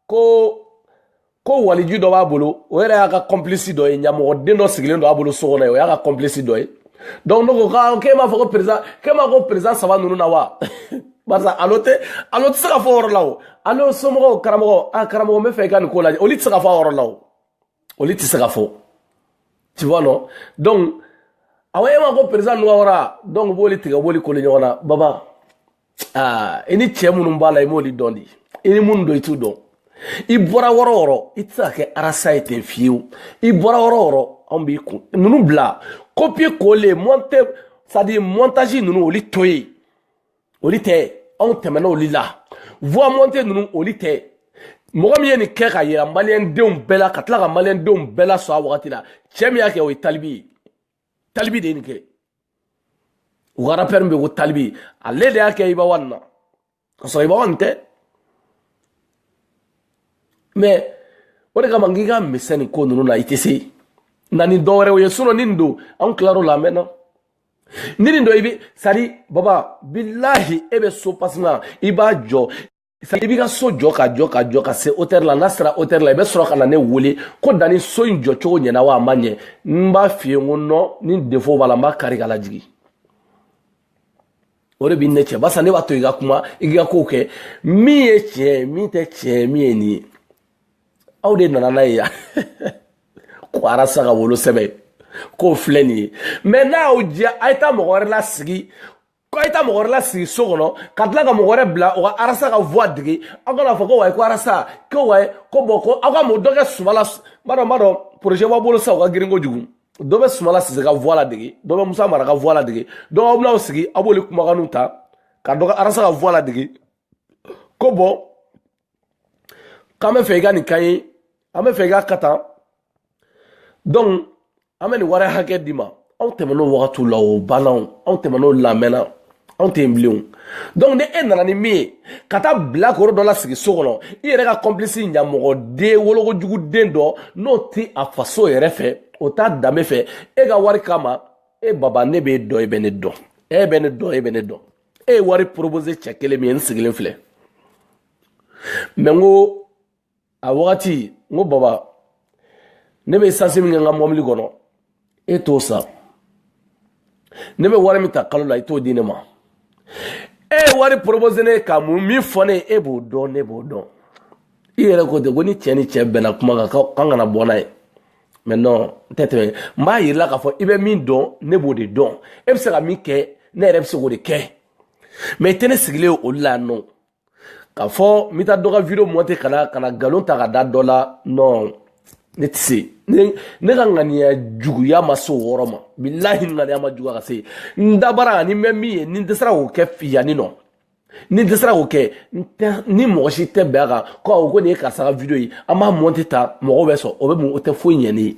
ko ko waliju dɔ b'a bolo o yɛrɛ y'a ka complice dɔ ye ɲamɔgɔden dɔ sigilen don a bolo so kɔnɔ yen o y'a ka complice dɔ ye donc ne ko ka k'e m'a fɔ ko président k'e m'a ko président saba ninnu na wa barisa allô tɛ allô tɛ se ka fɔ o yɔrɔ la o allô somɔgɔw karamɔgɔ a karamɔgɔ n b'a fɛ i ka nin ko lajɛ olu tɛ se ka fɔ a yɔrɔ la o olu tɛ se ka fɔ tu vois non donc awa e ma ko président nɔgɔyara donc b'olu tigɛ u b'olu coller ɲɔgɔn na baba aa i ni cɛ minnu b'a la i m'olu dɔn de i ni minnu don i t'u dɔn i bɔra wɔrɔ wɔrɔ i tɛ se ka kɛ arasa ye ten fiyewu i bɔra wɔrɔ wɔrɔ anw b'i kun ninnu bila copier coller monter c'est à dire montage ninnu olu to yen olu tɛ anw tɛmɛna olu la voix montée ninnu olu tɛ mɔgɔ min ye nin kɛ ka yira maliyɛndenw bɛɛ la ka tila ka maliyɛndenw bɛɛ la sɔn a wagati la cɛ min y'a kɛ o ye tal b ye tal b de ye nin kɛ u ka rapɛri min bɛ ko tal b ale de y'a kɛ iba one na ka sɔrɔ iba one tɛ mɛ o de kama n k'i ka misɛnnin ko ninnu na i tɛ se na ni dɔwɛrɛw ye sinɔn ni nin don an tilar'o la a mɛnna ni nin don i bɛ sari baba bilahi e bɛ so pasina i b'a jɔ i b'i ka so jɔ ka jɔ ka jɔ ka se hauteur la n'a sera hauteur la i bɛ sɔrɔ ka na ne wele ko danni so in jɔ cogo ɲɛna wa a ma ɲɛ n b'a f'i ye n ko non ni défaut b'a la n b'a kari ka lajigin o de b'i ni ne cɛ barisa ne b'a to i ka kuma i ka kow kɛ min ye tiɲɛ ye min tɛ tiɲɛ ye min ye nin ye aw de nana n'a ye yan ko arasa ka wolosɛbɛn k'o filɛ nin ye mɛ n'a y'aw diya a ye taa mɔgɔ wɛrɛ lasigi ko a ye taa mɔgɔ wɛrɛ lasigi so kɔnɔ ka tila ka mɔgɔ wɛrɛ bila o ka arasa ka voix dege aw kana fɔ ko wayi ko arasa ko wayi ko bɔn ko aw ka mɔgɔ dɔ kɛ sumala n b'a dɔn n b'a dɔn projet b'a bolo sisan o ka girin kojugu dɔ bɛ sumala sise ka voix ladege dɔ bɛ musa mara ka voix ladege dɔ aw bɛn'aw sigi aw b'olu kumakanw ta ka dɔ ka arasa ka voix ladege ko bɔn k'an bɛ fɛ i ka nin kan ye an bɛ fɛ i ka ka tan donc an bɛ nin wari hakɛ d'i ma anw tɛmɛn'o wagatiw la o banna anw tɛmɛn'o la a mɛnna anw tɛ yen bilen o donc ni e nana ni min ye ka taa bilakoro dɔ lasigi so kɔnɔ i yɛrɛ ka complice ɲamɔgɔden wolokojugu den dɔ n'o tɛ a faso yɛrɛ fɛ o t'a danbe fɛ e ka wari kama e baba ne b'e dɔn e bɛ ne dɔn e bɛ ne dɔn e bɛ ne dɔn e ye wari proposer cɛ kelen min ye n sigilen filɛ mɛ n ko a wagati n ko baba ne bɛ sansi min kɛ n ka mɔbili kɔnɔ e t'o san ne bɛ wari min ta kalo la i t'o di ne ma e ye wari proposer ne ka mun min fɔ ne ye e b'o dɔn ne b'o dɔn i yɛrɛ ko ten ko ni cɛ ni cɛ bɛnna kuma kan k'an kana bɔ n'a ye mɛ non n tɛ tɛmɛ n b'a yira i la k'a fɔ i bɛ min dɔn ne b'o de dɔn e bɛ se ka min kɛ ne yɛrɛ bɛ se k'o de kɛ mɛ i tɛ ne sigilen olu la non k'a fɔ n bɛ taa dɔ ka video monte ka na ka na nkalon ta ka da dɔ la non ne tɛ se ne ne ka ŋaniya juguya ma se o yɔrɔ ma bilahi ŋaniya ma juguya ka se n dabara ni n bɛ min ye ni n dɛsɛra k'o kɛ yanni nɔ ni n dɛsɛra k'o kɛ n tɛ ni mɔgɔ si tɛ bɛn a kan ko awo ko nin ye karisa ka video ye an b'a monte tan mɔgɔw bɛ sɔn o bɛ mun o tɛ foyi ɲɛ ne ye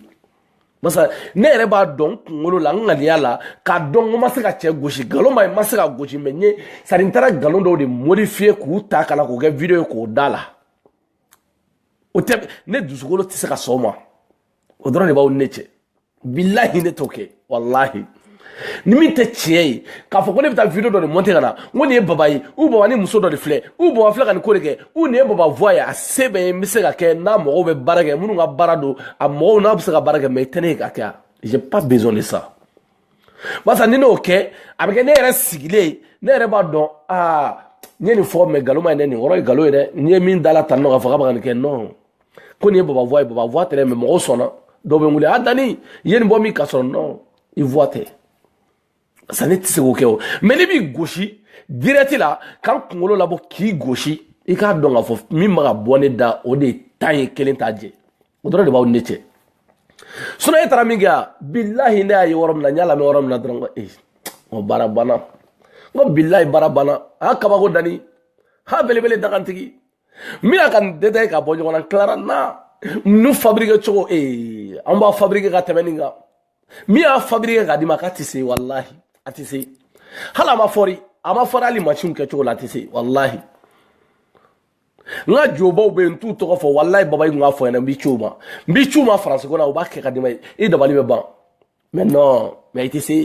barisa ne yɛrɛ b'a dɔn n kunkolo la n ŋaniya la k'a dɔn ko n ma se ka cɛ gosi nkalon ma ye ma se k'a gosi mɛ n ye sari n taara nkalon dɔw de modifiye k'u ta ka na k'o kɛ video ye k'o da a la o tɛ ne dusukolo tɛ se ka sɔn o ma o dɔrɔn de b'aw ni ne cɛ bilahi ne t'o kɛ walahi ni min tɛ tiɲɛ ye k'a fɔ ko ne bɛ taa video dɔ de monter ka na n ko nin ye baba ye ou baba ni muso dɔ de filɛ ou baba filɛ ka nin ko de kɛ ou nin ye baba voix ye a se bɛ n ye n bɛ se k'a kɛ n n'a mɔgɔw bɛ baara kɛ minnu ka baara don a mɔgɔw n'a bɛ se ka baara kɛ mais i tɛ ne ye k'a kɛ a j'ai pas besoin de ça barisa ni ne y'o kɛ a bɛ kɛ ne yɛrɛ sigilen ye ne yɛrɛ b'a dɔn aa n ye nin fɔ mɛ nkalon ma ye dɛ nin yɔrɔ ye nkalon ye dɛ n ye min da a la tan nɔ k'a fɔ k'a bɛ ka nin kɛ non ko nin ye baba voix ye baba voix tɛ dɛ mɛ mɔgɔw sɔnna dɔw bɛ n wele a danni i ye nin bɔ min ka sɔrɔ non i voix tɛ sa ne tɛ se k'o kɛ o mɛ ne b'i gosi direct la ka n kunkolo labɔ k'i gosi i k'a dɔn k'a fɔ min mana bɔ ne da o de ye tan ye kelen t'a jɛ o dɔrɔn de b'aw ni ne cɛ sinɔn e taara min kɛ a bilahi ne y'a ye yɔrɔ min na n y'a lamɛn yɔrɔ min na dɔrɔn ko ee o baara banna n ko bilahi baara banna a y'a kabako dani ha belebele dagantigi n bɛna ka nin detaye ka bɔ ɲɔgɔn na n tilara n na ninnu fabrike cogo ee eh, an b'a fabrike ka tɛmɛ nin kan min y'a fabrike k'a d'i ma k'a tɛ se walahi a tɛ se hali a ma fɔri a ma fɔri hali masiw kɛcogo la a tɛ se walahi n ka jobaw bɛ yen n t'u tɔgɔ fɔ walayi baba i tun k'a fɔ n ɲɛna n b'i ci u ma n b'i ci u ma faransi ko la u b'a kɛ k'a d'i ma ye i dabali bɛ ban mɛ nɔn mɛ i tɛ se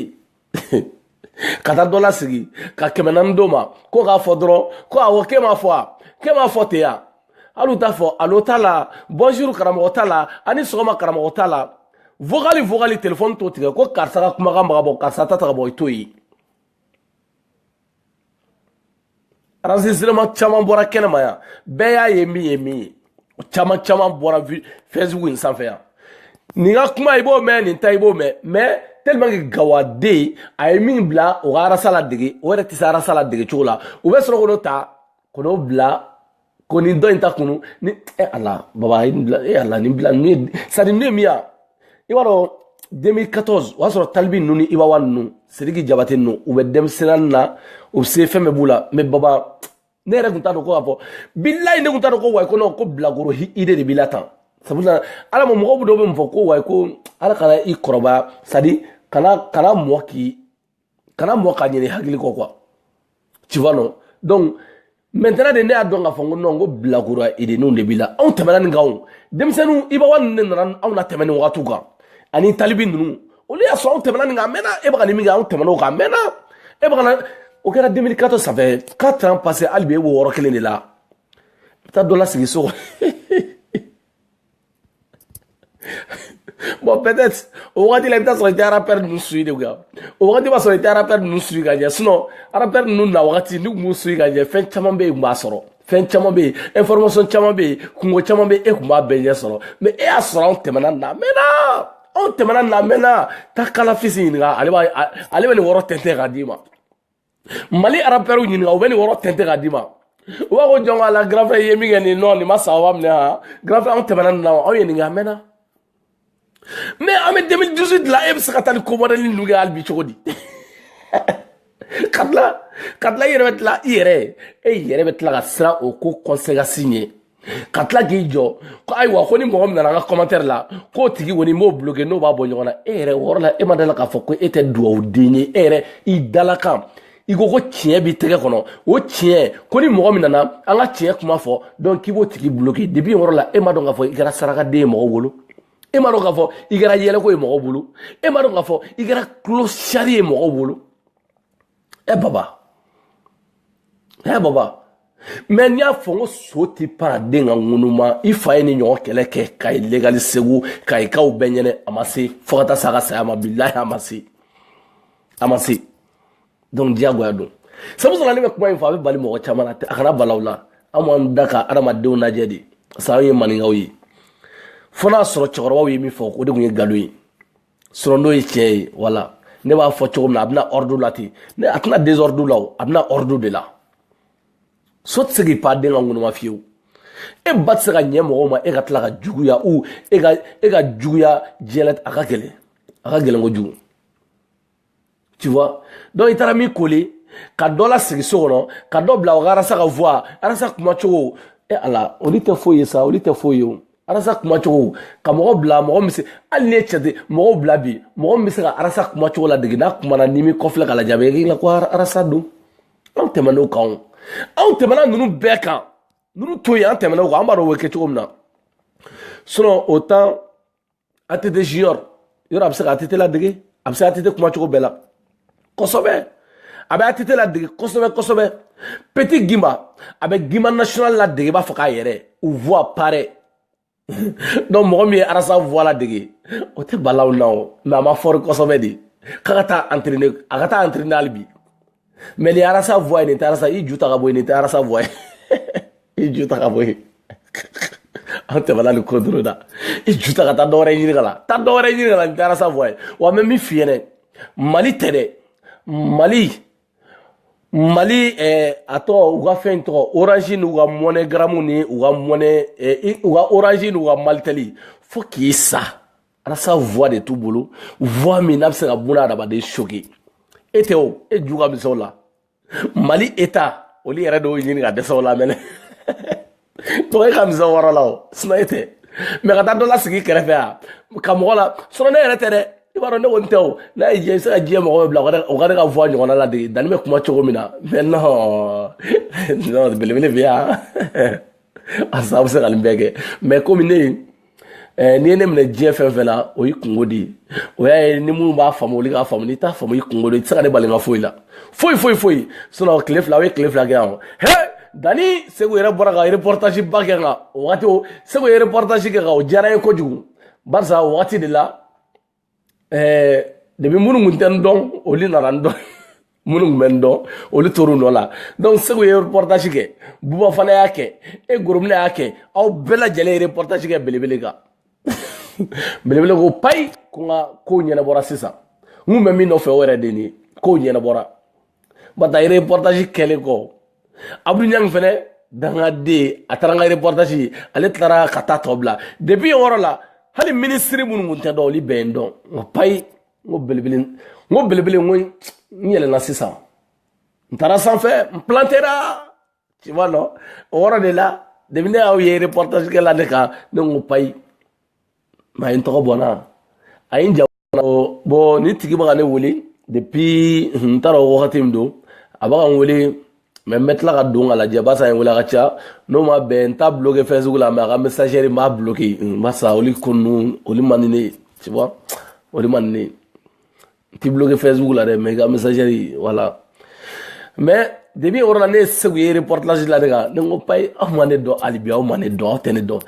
ka taa dɔ lasigi ka kɛmɛ naani d'o ma ko k'a fɔ dɔrɔn ko awɔ k'e m'a fɔ a k'e m'a fɔ ten yan hali u t'a fɔ alo t'a la bonjour karamɔgɔ t'a la ani sɔgɔma karamɔgɔ t'a la vogali vogali telefɔni t'o tigɛ ko karisa ka kumakan bɛ ka bɔ karisa ta tɛ ka bɔ i t'o ye enregistrement caman bɔra kɛnɛma yan bɛɛ y'a ye min ye min ye o caman caman bɔra fɛsibuku in sanfɛ yan nin ka kuma i b'o mɛn nin ta i b'o mɛn mɛ tellement que gawaden a ye min bila o ka arasa ladege o yɛrɛ tɛ se arasa ladege cogo la u bɛ sɔrɔ k'o ta k'o bila ko ni dɔ y'i ta kunun ni e ala baba e ala ni bila ni sadi ni min a i b'a dɔn deux mille quatorze o y'a sɔrɔ tal b ninnu ni iba one ninnu sidiki jabate ninnu u bɛ denmisɛnnin na u se fɛn bɛɛ b'u la mɛ baba ne yɛrɛ tun t'a dɔn ko k'a fɔ bilayi ne tun t'a dɔn ko wayi ko nɔn ko bilakoro i de de b'i la tan sabula ala ma mɔgɔw dɔw bɛ mun fɔ ko wayi ko ala kana i kɔrɔbaya sadi kana kana mɔɔ k'i kana mɔgɔ ka ɲini hakili kɔ quoi tu vois non donc maintenant de ne y'a dɔn k'a fɔ n ko non n ko bilakoro denninw de b'i la anw tɛmɛna nin kan o denmisɛnninw iba one ninnu de nana anw na tɛmɛ nin wagatiw kan ani tal b ninnu olu y'a sɔrɔ anw tɛmɛna nin kan a mɛnna e bɛ ka nin min kɛ anw tɛmɛna o kan a mɛnna e bɛ ka na o kɛra 2014 sanfɛ 4 ans passé hali bi e b'o yɔrɔ kelen de la i bɛ taa dɔ lasigi so kɔnɔ bon peut-être o wagati la i bɛ taa sɔrɔ i tɛ arapɛr ninnu suivi de kan o wagati b'a sɔrɔ i tɛ arapɛr ninnu suivi ka ɲɛ sinɔn arapɛr ninnu na wagati n'i tun b'u suivi ka ɲɛ fɛn caman bɛ yen tun b'a sɔrɔ fɛn caman bɛ yen information caman bɛ yen kunko caman bɛ yen e tun b'a bɛɛ ɲɛ sɔrɔ mɛ e y'a sɔrɔ anw tɛmɛna nin na a mɛnna anw tɛmɛna nin na a mɛnna taa kalafisi ɲininka ale b'a ale bɛ nin wɔrɔ tɛntɛn k'a d'i ma mali arapɛriw ɲininka u bɛ nin wɔrɔ tɛntɛn k'a d'i ma u b'a ko jɔn ka la grand frère ye min kɛ nin nɔ nin ma sababa minɛ ha grand frère anw tɛmɛna nin na wa aw ye nin kɛ a mɛnna mɛ an bɛ 2018 la e bɛ se ka taa nin comédie ninnu kɛ hali bi cogo di ka tila ka tila i yɛrɛ bɛ tila i yɛrɛ ye e yɛrɛ bɛ tila ka siran o ko conséquence ɲɛ ka tila k'i jɔ ko ayiwa ko ni mɔgɔ min nana an ka kɔmantɛri la k'o tigi kɔni b'o bloke n'o b'a bɔ ɲɔgɔn na e yɛrɛ o yɔrɔ la e ma da a la k'a fɔ ko e tɛ dugawuden ye e yɛrɛ i dala a kan i ko ko tiɲɛ b'i tɛgɛ kɔnɔ o tiɲɛ ko ni mɔgɔ min nana an ka tiɲɛ kuma fɔ dɔrɔn k'i b'o tigi bloke depuis yɔrɔ la e m'a dɔn k'a fɔ i kɛra sarakaden ye mɔgɔw bolo e m'a dɔn k'a fɔ i kɛra yɛlɛko ye mɔgɔw bolo e m'a dɔn k'a fɔ i kɛra clochard ye mɔgɔw bolo ɛ baba ɛ baba mɛ n y'a fɔ n ko so tɛ pan a den ka ŋunuma i fa ye nin ɲɔgɔn kɛlɛ kɛ kayi legali segu kayikaw bɛɛ ɲɛna a ma se fo ka taa sa a ka saya ma bilahi a ma se a ma se donc diyagoya don sabu sɔrɔ ne bɛ kuma in fɔ a bɛ bala mɔgɔ caman na a kana bala aw la an b'an da ka adamadenw lajɛ de parce que an ye maninkaw ye fo n'a sɔrɔ cɛkɔrɔbaw ye min fɔ o de tun ye nkalon ye sɔrɔ n'o ye tiɲɛ ye wala ne b'a fɔ cogo min na a bɛ na ɔridu la ten de a tɛ na desɔridu la o a bɛ na ɔridu de la so tɛ se k'i pan den ka ŋunuma fiyewu e ba tɛ se ka ɲɛ mɔgɔw ma e ka tila ka juguya u e ka e ka juguya diɲɛ a ka gɛlɛn a ka gɛlɛn kojugu tu vois donc i taara min koli ka dɔ lasigi so kɔnɔ ka dɔ bila o ka arasa ka voix arasa kuma cogo e ala olu tɛ foyi ye sa olu tɛ foyi ye o arasa kuma cogo ka mɔgɔ bila mɔgɔ min se hali n'i ye cɛ ten mɔgɔw bila bi mɔgɔ min bɛ se ka arasa kuma cogo ladege n'a kumana n'i m'i kɔfilɛ k'a lajɛ a bɛ k'i la ko arasa don anw tɛmɛna o kan o anw tɛmɛna ninnu bɛɛ kan ninnu to yen an tɛmɛna o kan an b'a dɔn o bɛ kɛ cogo min na sinɔn o tan ATT junior a bɛ se ka ATT ladege a bɛ se ATT kuma cogo bɛɛ la kosɛbɛ a bɛ ATT ladege kosɛbɛ kosɛbɛ petit gimba a bɛ gimba national ladege i b'a fɔ k'a yɛrɛ u voix pareil donc mɔgɔ min ye Ras voix ladege o tɛ bala aw na o mais a ma fort kosɛbɛ dɛ k'a ka taa entraîner a ka taa entraîner hali bi mais ni Ras voix ye nin tɛ Ras i ju ta ka bɔ yen nin tɛ Ras voix ye i ju ta ka bɔ yen an tɛmɛna nin ko doro da i ju ta ka taa dɔwɛrɛ ɲini k'a la taa dɔwɛrɛ ɲini k'a la nin tɛ Ras voix ye wa n bɛ min f'i ɲɛna malitɛli mali mali eh, a tɔgɔ u ka fɛn tɔgɔ orange n'u ka MoneyGram ni u ka mɔnɛ eh, u ka orange n'u ka malitɛli fo k'i sa Ras voix de t'u bolo voix min n'a bɛ se ka buna adamaden choquer e tɛ o e ju ka misɛn o la mali eta olu yɛrɛ de y'o ɲini ka dɛsɛ o la mɛnɛ tɔgɔ e ka misɛn o yɔrɔ la o sinon e tɛ mɛ ka taa dɔ lasigi kɛrɛfɛ a ka mɔgɔ la sinon ne yɛrɛ tɛ dɛ i b'a dɔn ne kɔni tɛ o n'a ye diɲɛ i bɛ se ka diɲɛ mɔgɔ bɛɛ bila o ka ne ka voix ɲɔgɔnna ladege dani bɛ kuma cogo min na mais non non belebele bɛ yan a sababu bɛ se ka nin bɛɛ kɛ mais komi ne ye Eh, n'i ye ne minɛ diɲɛ fɛn fɛn na o y'i kunko de ye o y'a ye ni minnu b'a faamu olu k'a faamu n'i t'a faamu i kunko de i tɛ se ka ne bali n ka foyi la foyi foyi foyi sinon tile fila aw ye tile fila kɛ yan he dani segu yɛrɛ bɔra ka reportage ba kɛ nka o wagati o segu ye reportage kɛ ka o diyara n ye kojugu barisa o wagati de la ɛɛ depuis minnu tun tɛ n dɔn olu nana n dɔn minnu tun bɛ n dɔn olu tor'u nɔ la donc segu ye reportage kɛ buba fana y'a kɛ e goromina y'a kɛ aw bɛɛ lajɛlen ye reportage kɛ belebele kan belebele ko payi ko n ka kow ɲɛnabɔra sisan n kun bɛ min nɔfɛ o yɛrɛ de nin ye kow ɲɛnabɔra ba ta reportage kɛlen kɔ abdu ɲang fɛnɛ dangaden a taara n ka reportage ale taara ka taa tɔ bila depuis yen yɔrɔ la hali minisiri minnu kun tɛ n dɔn olu bɛɛ ye n dɔn n ko payi n ko belebele n ko belebele n ko n yɛlɛnna sisan n taara sanfɛ n plantera ci ma nɔ o yɔrɔ de la depuis ne y'aw ye reportage kɛ la ne kan ne ko payi mais a ye n tɔgɔ bɔ n na a ye n ja bɔ nin tigi bɛ ka ne wele depuis n t'a dɔn wagati min don a bɛ ka n wele mais n bɛ tila ka don ka lajɛ barisa a ye n wele a ka ca n'o ma bɛn n t'a bloqué facebook la mais a ka messagerie n b'a bloqué barisa olu ko ninnu olu man di ne ye tu vois olu man di ne ye t'i bloqué Facebook la dɛ mais i ka messagerie voilà mais depuis yɔrɔ la ne ye segu ye reportage la ne kan ne ko payi aw ma ne dɔn hali bi aw ma ne dɔn aw tɛ ne dɔn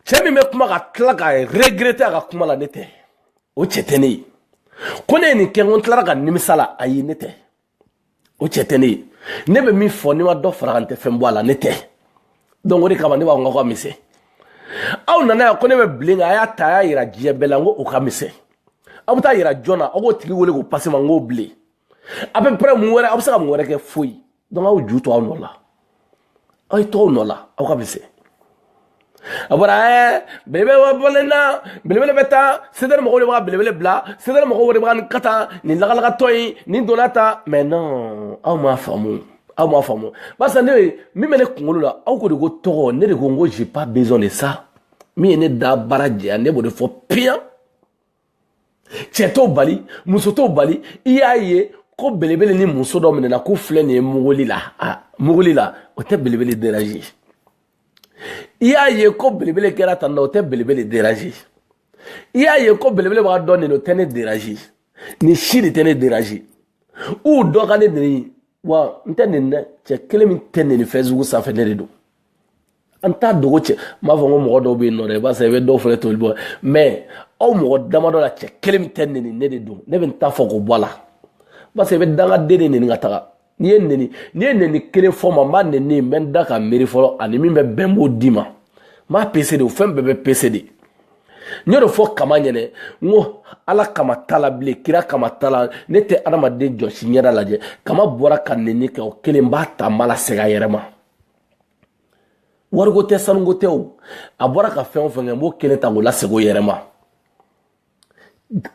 cɛ min bɛ kuma ka tila ka regretter a ka kuma la ne tɛ o cɛ tɛ ne ye ko ne ye nin kɛ ko n tilara ka nimisa la ayi ne tɛ o cɛ tɛ ne ye ne bɛ min fɔ n'i ma dɔ fara a kan n tɛ fɛn bɔ a la ne tɛ donc o de kama ne b'a fɔ n k'aw ka misɛn aw nana yan ko ne bɛ bilen kan a y'a ta a y'a yira diɲɛ bɛɛ la n ko o ka misɛn aw bɛ taa yira jɔn na aw k'o tigi wele k'o pase ma n k'o bilen et puis après mun wɛrɛ aw bɛ se ka mun wɛrɛ kɛ foyi donc aw ju to aw nɔ la aw ye to aw nɔ la aw ka misɛn a bɔra ɛɛ belebele wa bɔlen na belebele bɛ taa sedɛri mɔgɔw de b'a belebele bila sedɛri mɔgɔw de b'a ka taa nin lagalagatɔ in nin donna ta mais non aw m'a faamu aw m'a faamu barisa ne ye min bɛ ne kunkolo la aw ko de ko tɔgɔ ne de ko n ko j'ai pas besoin de ça min ye ne da baara jɛya ne b'o de fɔ piyan cɛ t'o bali muso t'o bali i y'a ye ko belebele ni muso dɔ minɛna k'u filɛ nin ye muguli la a muguli la o tɛ belebele deranze i y'a ye ko belebele kɛra tan na o tɛ belebele deranze i y'a ye ko belebele bɛ ka dɔn nin o tɛ ne deranze nin si de tɛ ne deranze u dɔ ka ne neni wa n tɛ neni dɛ cɛ kelen min tɛ neni facebook sanfɛ ne de don an t'a dogo cɛ n b'a fɔ ko mɔgɔ dɔw bɛ yen nɔ dɛ i b'a sɔrɔ i bɛ dɔw fana toli bɔ mais aw mɔgɔ damadɔ la cɛ kelen min tɛ neni ne de don ne bɛ n ta fɔ k'o bɔ a la parce que i bɛ dangaden de neni ka taga n'i ye neni n'i ye neni kelen fɔ n ma n b'a neni n bɛ n da ka miiri fɔlɔ ani min bɛ bɛn b'o d'i ma n b'a pese de o fɛn bɛɛ bɛ pese de n y'o fɔ kama ɲɛnɛ n ko ala kama t'a la bilen kira kama t'a la ne tɛ adamaden jɔsi ɲɛda lajɛ kama bɔra ka neni kɛ o kelen b'a ta n b'a lasegin a yɛrɛ ma wariko tɛ sanuko tɛ o a bɔra ka fɛn o fɛn kɛ n b'o kelen ta k'o lasegin o yɛrɛ ma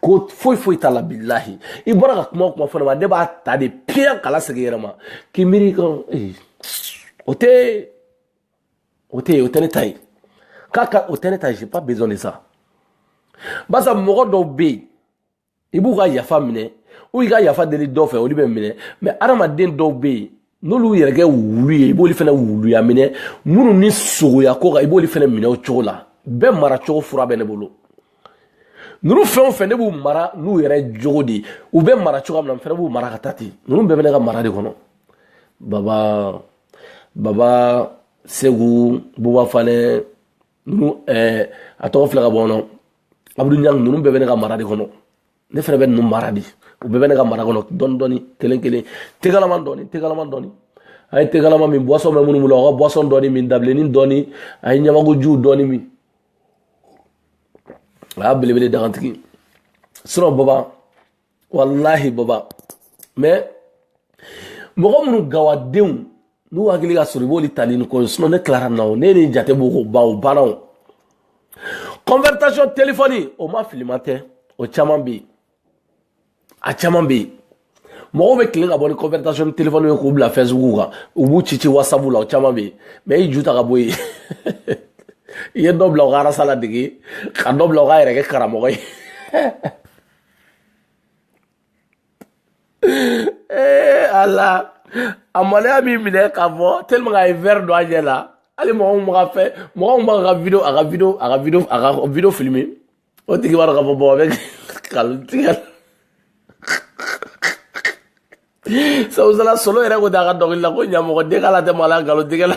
ko foyi foyi t'a la bilahi i bɔra ka kuma o kuma fɔ ne ma ne b'a ta de piyan k'a lasegin i yɛrɛ ma k'i miiri kan o tɛ o tɛ o tɛ ne ta ye k'a ka o tɛ ne ta ye j'ai pas besoin de ça barisa mɔgɔ dɔw bɛ yen i b'u ka yafa minɛ u i ka yafa deli dɔ fɛ olu bɛ minɛ mais adamaden dɔw bɛ yen n'olu y'u yɛrɛ kɛ wulu ye i b'olu fana wuluya minɛ minnu ni sogoya ka kan i b'olu fana minɛ o cogo la bɛɛ mara cogo fura bɛ ne bolo ninnu fɛn o fɛn ne b'u mara n'u yɛrɛ jogo de ye u bɛ mara cogoya min na n fana b'u mara ka taa ten ninnu bɛɛ bɛ ne ka mara de kɔnɔ baba baba segu buba fane ninnu ɛɛ a tɔgɔ filɛ ka bɔ nɔ abudu ɲang ninnu bɛɛ bɛ ne ka mara de kɔnɔ ne fɛnɛ bɛ ninnu mara de u bɛɛ bɛ ne ka mara kɔnɔ dɔɔni dɔɔni kelen kelen te kalama dɔɔni te kalama dɔɔni a ye te kalama min buwasɔn bɛ minnu bolo aw ka buwasɔn dɔɔni min dabilennin dɔɔni a ye ɲamakuji dɔɔni min a y'a belebele dakantigi sinɔn baba walahi baba mɛ mɔgɔ minnu gawadenw n'u hakili ka sɔrɔ i b'olu tali ni kɔrɔ sinɔn ne tilara na o ne ni jate b'o ko baw baaraw conversation telefɔni o ma filima tɛ o caman bɛ yen a caman bɛ yen mɔgɔw bɛ tilen ka bɔ ni conversation telefɔni ye k'u bila fɛsibuku kan u b'u ci ci wasabu la o caman bɛ yen mɛ i ju ta ka bɔ yen i ye dɔ bila u ka arasa ladege ka dɔ bila u ka yɛrɛ kɛ karamɔgɔ ye ee a la a maloya b'i minɛ ka bɔ teliman a ye wɛri don a ɲɛ la hali mɔgɔ min ka fɛn mɔgɔ min b'a ka video a ka video a ka video a ka video filime o tigi b'a dɔn ka fɔ bɔn a bɛ nkalon tigɛ sabu sala solo yɛrɛ ko ten a ka dɔnkili la ko ɲamɔgɔden k'ala tɛ maloya nkalon tigɛ la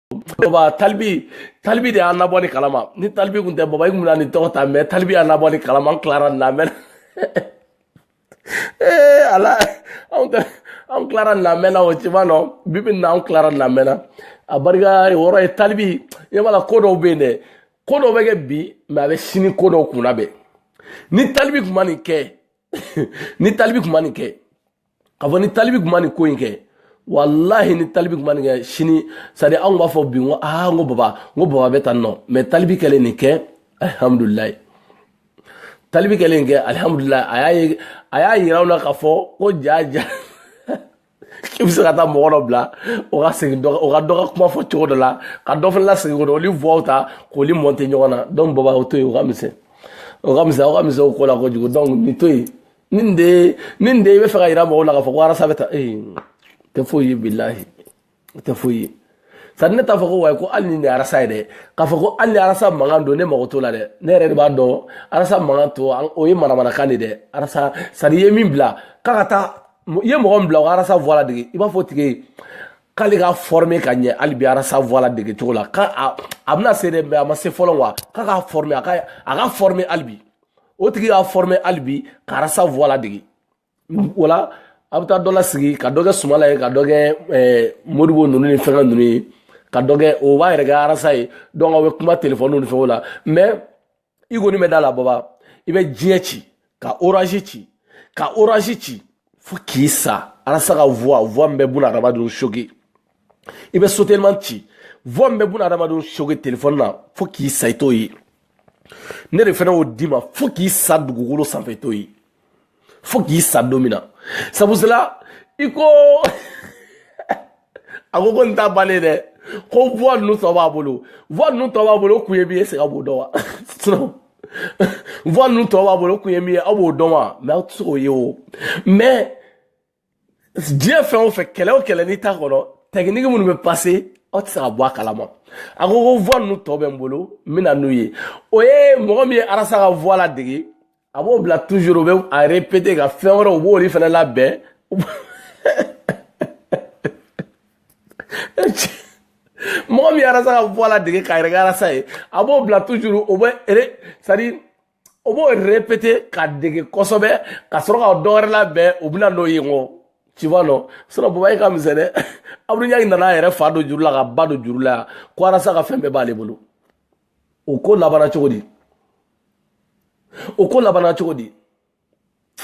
baba talibi talibi de y'an nabɔ nin kalama ni talibi kun tɛ baba i kun bɛna nin tɔgɔ ta mɛ talibi y'an nabɔ nin kalama n tilara nin na mɛ ee ala anw tɛ anw tilara nin na mɛnna o ciba nɔ bibi nin na anw tilara nin na mɛnna a barika yɔrɔ ye talibi ɲɛ b'a la ko dɔw bɛ yen dɛ ko dɔw bɛ kɛ bi mɛ a bɛ sini ko dɔw kunnabɛn ni talibi kun ma nin kɛ ni talibi kun ma nin kɛ ka fɔ ni talibi tun ma nin ko in kɛ walahi ni talibi tun ma nin kɛ sini sadi anw b'a fɔ bi n ko aa n ko baba n ko baba bɛ tan nɔ mɛ talibi kɛlen nin kɛ alihamudulilayi talibi kɛlen kɛ alihamudulilayi a y'a ye a y'a yira aw la k'a fɔ ko jaa jaa k'i bɛ se ka taa mɔgɔ dɔ bila o ka segin dɔ o ka dɔ ka kuma fɔ cogo dɔ la ka dɔ fana lasegin ko dɔ olu voix ta k'olu mɔnte ɲɔgɔn na donc baba o to yen o ka misɛn o ka misɛn aw ka misɛn o ko la kojugu donc nin to yen nin de ye nin de ye i b'a fɛ k'a yira mɔgɔw la k'a fɔ ko arasa bɛ tan e tɛ foyi ye bilahi tɛ foyi ye sani ne t'a fɔ ko wayi ko hali nin de arasa ye dɛ k'a fɔ ko hali ni arasa mankan don ne mago t'o la dɛ ne yɛrɛ de b'a dɔn arasa mankan to o ye manamanakan de dɛ arasa sani i ye min bila k'a ka taa i ye mɔgɔ min bila o ka arasa voix ladege i b'a fɔ o tigi ye k'ale ka forme ka ɲɛ hali bi arasa voix ladege cogo la ko a bɛna se dɛ mɛ a ma se fɔlɔ wa k'a ka forme a ka a ka forme hali bi o tigi y'a forme hali bi k'arasa voix ladege wala a bɛ taa dɔ lasigi ka dɔ kɛ sumala ye ka dɔ kɛ eh, modibo ninnu ni fɛnkɛ ninnu ye ka dɔ kɛ o b'a yɛrɛ kɛ arasa ye donc aw bɛ kuma telefɔniw ni fɛnw la mais i kɔni bɛ da la baba i bɛ diɲɛ ci ka orange ci ka orange ci fo k'i sa arasa ka voix voix min bɛ buna adamadenw choquer i bɛ sotelima ci voix min bɛ buna adamadenw soge telefɔni na fo k'i sa i t'o ye ne de fana y'o d'i ma fo k'i sa dugukolo sanfɛ i t'o ye fo k'i sa don min na sabu sela i ko a ko ko nin t'a bannen dɛ ko voix ninnu tɔ b'a bolo voix ninnu tɔ b'a bolo o kun ye min ye sega b'o dɔn wa sinon voix ninnu tɔ b'a bolo o kun ye min ye aw b'o dɔn wa mɛ aw tɛ se k'o ye o mɛ diɲɛ fɛn o fɛn kɛlɛ o kɛlɛ n'i t'a kɔnɔ tɛkiniki minnu bɛ pase aw tɛ se ka bɔ a kalama a ko ko voix ninnu tɔ bɛ n bolo n bɛ na n'u ye o ye mɔgɔ min ye arasa ka voix ladege a b'o bila toujours o bɛ a répéter ka fɛn wɛrɛw u b'olu fana labɛn mɔgɔ min ye arasa ka voix ladege k'a yɛrɛ kɛ arasa ye a b'o bila toujours o bɛ c'est à dire o b'o répéter ka dege kosɛbɛ ka sɔrɔ ka dɔ wɛrɛ labɛn u bɛna n'o ye ŋɔ tu vois non sinon baba ye ka misɛn dɛ abdoul niang nana a yɛrɛ fa don juru la k'a ba don juru la yan ko arasa ka fɛn bɛɛ b'ale bolo o ko labanna cogo di o ko labanna cogo di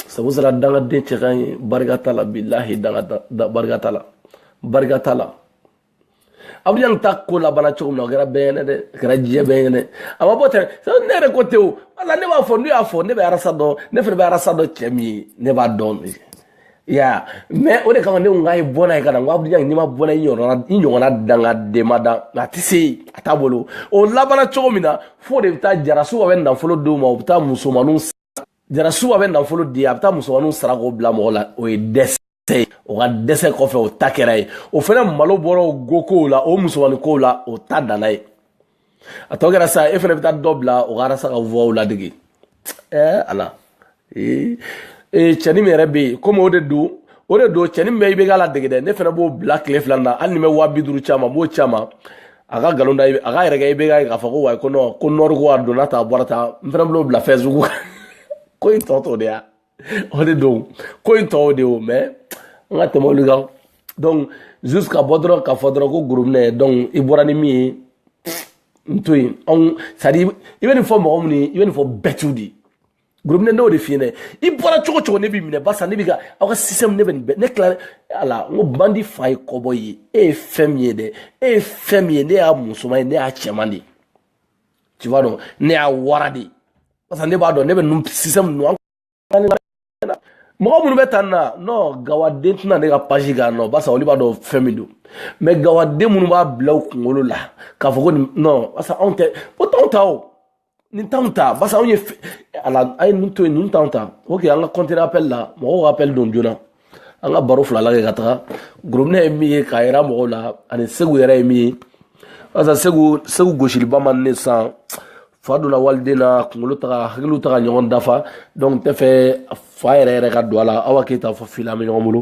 sabu sera dangaden cɛ kan ye barika t'a la bilahi barika t'a la barika t'a la abdoul niang ta ko labanna cogo min na o kɛra bɛɛ ɲɛna dɛ a kɛra diɲɛ bɛɛ ɲɛna a ma bɔ tɛ ne yɛrɛ ko tɛ o wala ne b'a fɔ n'u y'a fɔ ne bɛ arasa dɔn ne fana bɛ arasa dɔn cɛ min ye ne b'a dɔn dɛ i y'a mɛ o de kama ne ko n k'a ye bɔnna ye ka na n ko abdoul niang ma bɔnna i ɲɔgɔnna i ɲɔgɔnna dangaden ma dan a tɛ se yen a t'a bolo o labanna cogo min na o de bɛ taa arasa bath bɛ nafolo d'o ma o bɛ taa musomaninw arasa bɛ nafolo di a bɛ taa musomaninw sara k'o bila mɔgɔ la o ye dɛsɛ ye o ka dɛsɛ kɔfɛ o ta kɛra ye o fana malo bɔra o go kow la o musomanin kow la o ta danna yen a tɔ kɛra sa e fana bɛ taa dɔ bila o ka arasa ka voix ladege ɛɛ ala ee cɛnin min yɛrɛ bɛ yen komi o de don o de don cɛnin bɛɛ i bɛ k'a ladege dɛ ne fana b'o bila tile fila na hali ni bɛ waa bi duuru caman b'o caman a ka nkalon da a ka yɛrɛ kɛ i bɛ k'a fɔ ko wayi ko nɔn ko nɔri ko a donna tan a bɔra tan n fana b'o bila facebook kan ko in tɔ t'o de ya o de don ko in tɔw de y'o mɛ an ka tɛmɛ olu kan donc juste ka bɔ dɔrɔn ka fɔ dɔrɔn ko gorobinɛ donc i bɔra ni min ye n to yen anw c'est à dire i bɛ nin fɔ mɔgɔ min ye i bɛ nin fɔ bɛɛ t'u de ye gorobinɛ n'o de f'i ɲɛna i bɔra cogo o cogo ne b'i minɛ barisa ne bɛ ka aw ka système ne bɛ nin bɛɛ ne tila ala n ko bandi fa ye kɔbɔ ye e ye fɛn min ye dɛ e ye fɛn min ye ne y'a musoman ye ne y'a cɛman de ye tu vois non ne y'a wara de ye barisa ne b'a dɔn ne bɛ ninnu système ninnu an mɔgɔ minnu bɛ tan na non gawaden tɛna ne ka page kan non barisa olu b'a dɔn fɛn min don mɛ gawaden minnu b'a bila u kunkolo la k'a fɔ ko nin non barisa anw tɛ o t'anw ta o nin t'anw ta basa anw ye ala a ye ninnu to yen ninnu t'anw ta oke an ka kɔntine apɛli la mɔgɔw ka apɛli don joona an ka baro fila la kɛ ka taga gorobinɛ ye min ye k'a yira mɔgɔw la ani segu yɛrɛ ye min ye barisa segu segu gosiliba man ne san fa donna waliden na kunkolo taga hakiliw taga ɲɔgɔn dafa donc tɛ fɛ fa yɛrɛ yɛrɛ ka don a la aw ka keyita fo fila an bɛ ɲɔgɔn bolo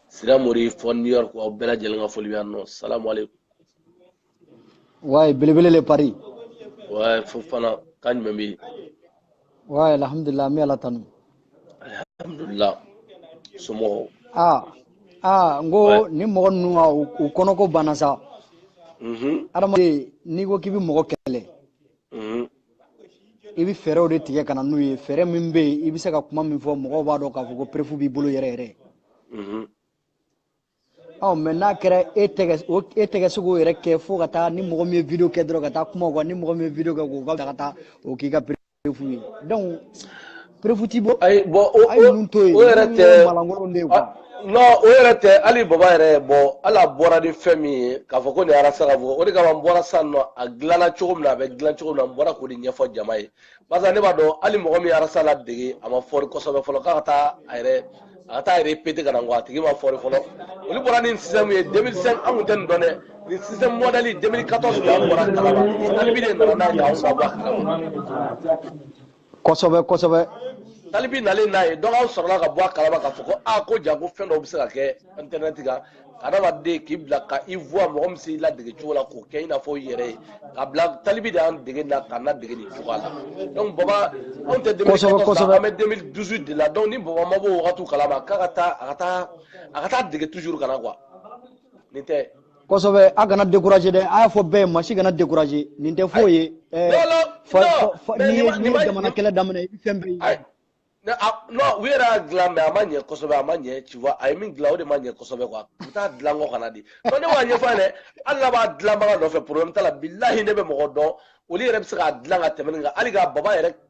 siramori fo new york aw bɛɛ lajɛlen ka foli bɛ yan nɔ salamu aleykum wayi belebele le paris wayi fofana ka ɲuman bɛ yen wayi alhamdulilah an bɛ ala tanu alhamdulilah somɔgɔw aa aa n ko ni mɔgɔ ninnu ka u kɔnɔko banna sa adamaden n'i ko k'i bɛ mɔgɔ kɛlɛ i bɛ fɛɛrɛw de tigɛ ka na n'u ye fɛɛrɛ min bɛ yen i bɛ se ka kuma min fɔ mɔgɔw b'a dɔn k'a fɔ ko perefu b'i bolo yɛrɛ yɛrɛ ɔ mɛ n'a kɛra e tɛ ka e tɛ ka se k'o yɛrɛ kɛ fo ka taa ni mɔgɔ min ye video kɛ dɔrɔn ka taa kuma o kan ni mɔgɔ min ye video kɛ k'o ka ka taa o k'i ka perefu ye donc perefu t'i bolo ayi bɔn o a ye ninnu to yen o yɛrɛ ninnu tɛ ye maa lankolon de ye quoi a- non o yɛrɛ tɛ hali baba yɛrɛ ye bɔ hali a bɔra ni fɛn min ye k'a fɔ ko nin arasa ka fɔ o de kama n bɔra sisan nɔ a dilanna cogo min na a bɛ dilan cogo min na n bɔra k'o de ɲɛfɔ jama ye barisa ne b'a dɔn hali mɔgɔ min ye arasa ladege a ma fɔri kosɛbɛ fɔlɔ k'a ka taa a yɛrɛ a ka taa a yɛrɛ pete ka na nkɔ a tigi ma fɔri fɔlɔ olu bɔra ni système ye 2005 an tun tɛ nin dɔn dɛ nin système modèle 2014 de an bɔra a kalama talibi de nana n'a ye k'anw ka bɔ a kalama kosɛbɛ kosɛbɛ talibi nalen n'a ye donc anw sɔrɔla ka bɔ a kalama k'a fɔ ko a ko jaa ko fɛn dɔw bɛ se ka kɛ internet kan adamaden k'i bila ka i voix mɔgɔ min s'i ladege cogo la k'o kɛ i n'a fɔ i yɛrɛ ye ka bila talibi de y'an dege na k'an ladege nin cogoya la donc baba anw tɛ 2014 an bɛ 2018 de la donc ni baba ma bɔ o wagatiw kalama k'a ka taa a ka taa a ka taa dege toujours ka na quoi nin tɛ kosɛbɛ a kana découragé dɛ a y'a fɔ bɛɛ ma si kana découragé nin tɛ foyi ye eh, n'i ye jamana kɛlɛ daminɛ i bɛ fɛn bɛɛ ye non u yɛrɛ y'a dilan mɛ a ma ɲɛ kosɛbɛ a ma ɲɛ tu vois a ye min dilan o de ma ɲɛ kosɛbɛ quoi u bɛ taa dilan kɔ ka na dɛ ne b'a ɲɛfɔ a ye dɛ hali n'a b'a dilanbaga nɔfɛ problème t'a la bilahi ne bɛ mɔgɔ dɔn olu yɛrɛ bɛ se k'a dilan ka tɛmɛ nin kan hali k'a baba yɛrɛ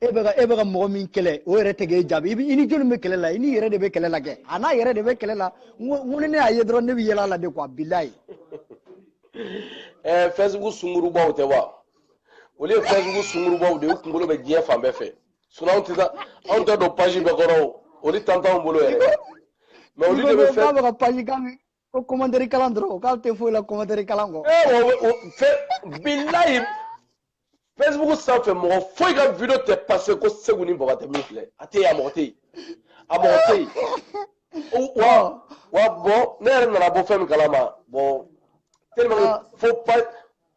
e bɛ ka e bɛ ka mɔgɔ min kɛlɛ o yɛrɛ tɛ k'e jaabi i bɛ i ni jɔni bɛ kɛlɛ la i n'i yɛrɛ de bɛ kɛlɛ la kɛ a n'a yɛrɛ de bɛ kɛlɛ la n ko n ko ni ne y'a ye dɔrɔn ne bɛ yɛlɛ a la de quoi bilayi. ɛɛ fɛsibuku sunkurubaw tɛ wa olu ye fɛsibuku sunkurubaw de ye u kunkolo bɛ diɲɛ fan bɛɛ fɛ sinɔn anw tɛ taa anw tɛ don page bɛɛ kɔrɔ o olu temps t'anw bolo yɛrɛ mɛ olu de bɛ fɛn. i ko b'a fɛ ka page kan ko kɔmantɛri kalan dɔrɔn k'ale tɛ foyi la kɔmantɛri kalan kɔ. ee eh, o o fɛ bilayi facebook sanfɛ mɔgɔ foyi ka video tɛ pase ko segu ni baba tɛ min filɛ a tɛ yen a mɔgɔ tɛ yen a mɔgɔ tɛ yen wa wa bɔn ne yɛrɛ nana bɔ fɛn min kalama bɔn tellement que ah. fo pa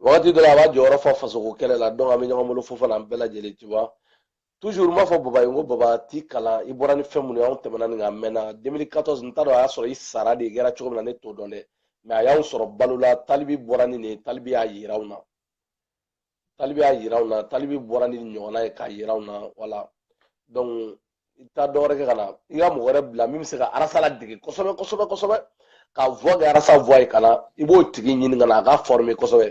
wagati dɔ la a b'a jɔyɔrɔ fa fasoko kɛlɛ la donc an bɛ ɲɔgɔn bolo fofana an bɛɛ lajɛlen tu vois toujours n b'a fɔ baba ye n ko baba t'i kalan i bɔra ni fɛn minnu ye anw tɛmɛna nin kan mɛnna 2014 n t'a dɔn a y'a sɔrɔ i sara de kɛra cogo min na ne t'o dɔn dɛ mɛ a y'anw sɔrɔ balo la talibi bɔra ni nin ye talibi y'a yira anw na talibi y'a yira anw na talibi bɔra ni nin ɲɔgɔnna ye k'a yira anw na wala donc i bɛ taa dɔ wɛrɛ kɛ ka na i ka mɔgɔ wɛrɛ bila min bɛ se ka arasa ladege kosɛbɛ kosɛbɛ kosɛbɛ k'a voix kɛ arasa voix ye ka na i b'o tigi ɲini ka na a ka fɔrime kosɛbɛ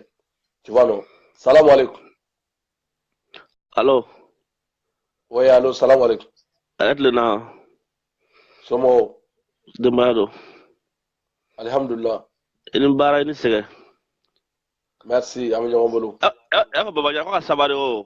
tu vois non salamu aleykum alo oui alo salamu aleykum a ye tile na somɔgɔw denbaya don alihamudulila i ni baara i ni sɛgɛn merci an bɛ ɲɔgɔn bolo y'a fɔ babajan ko ka sabari o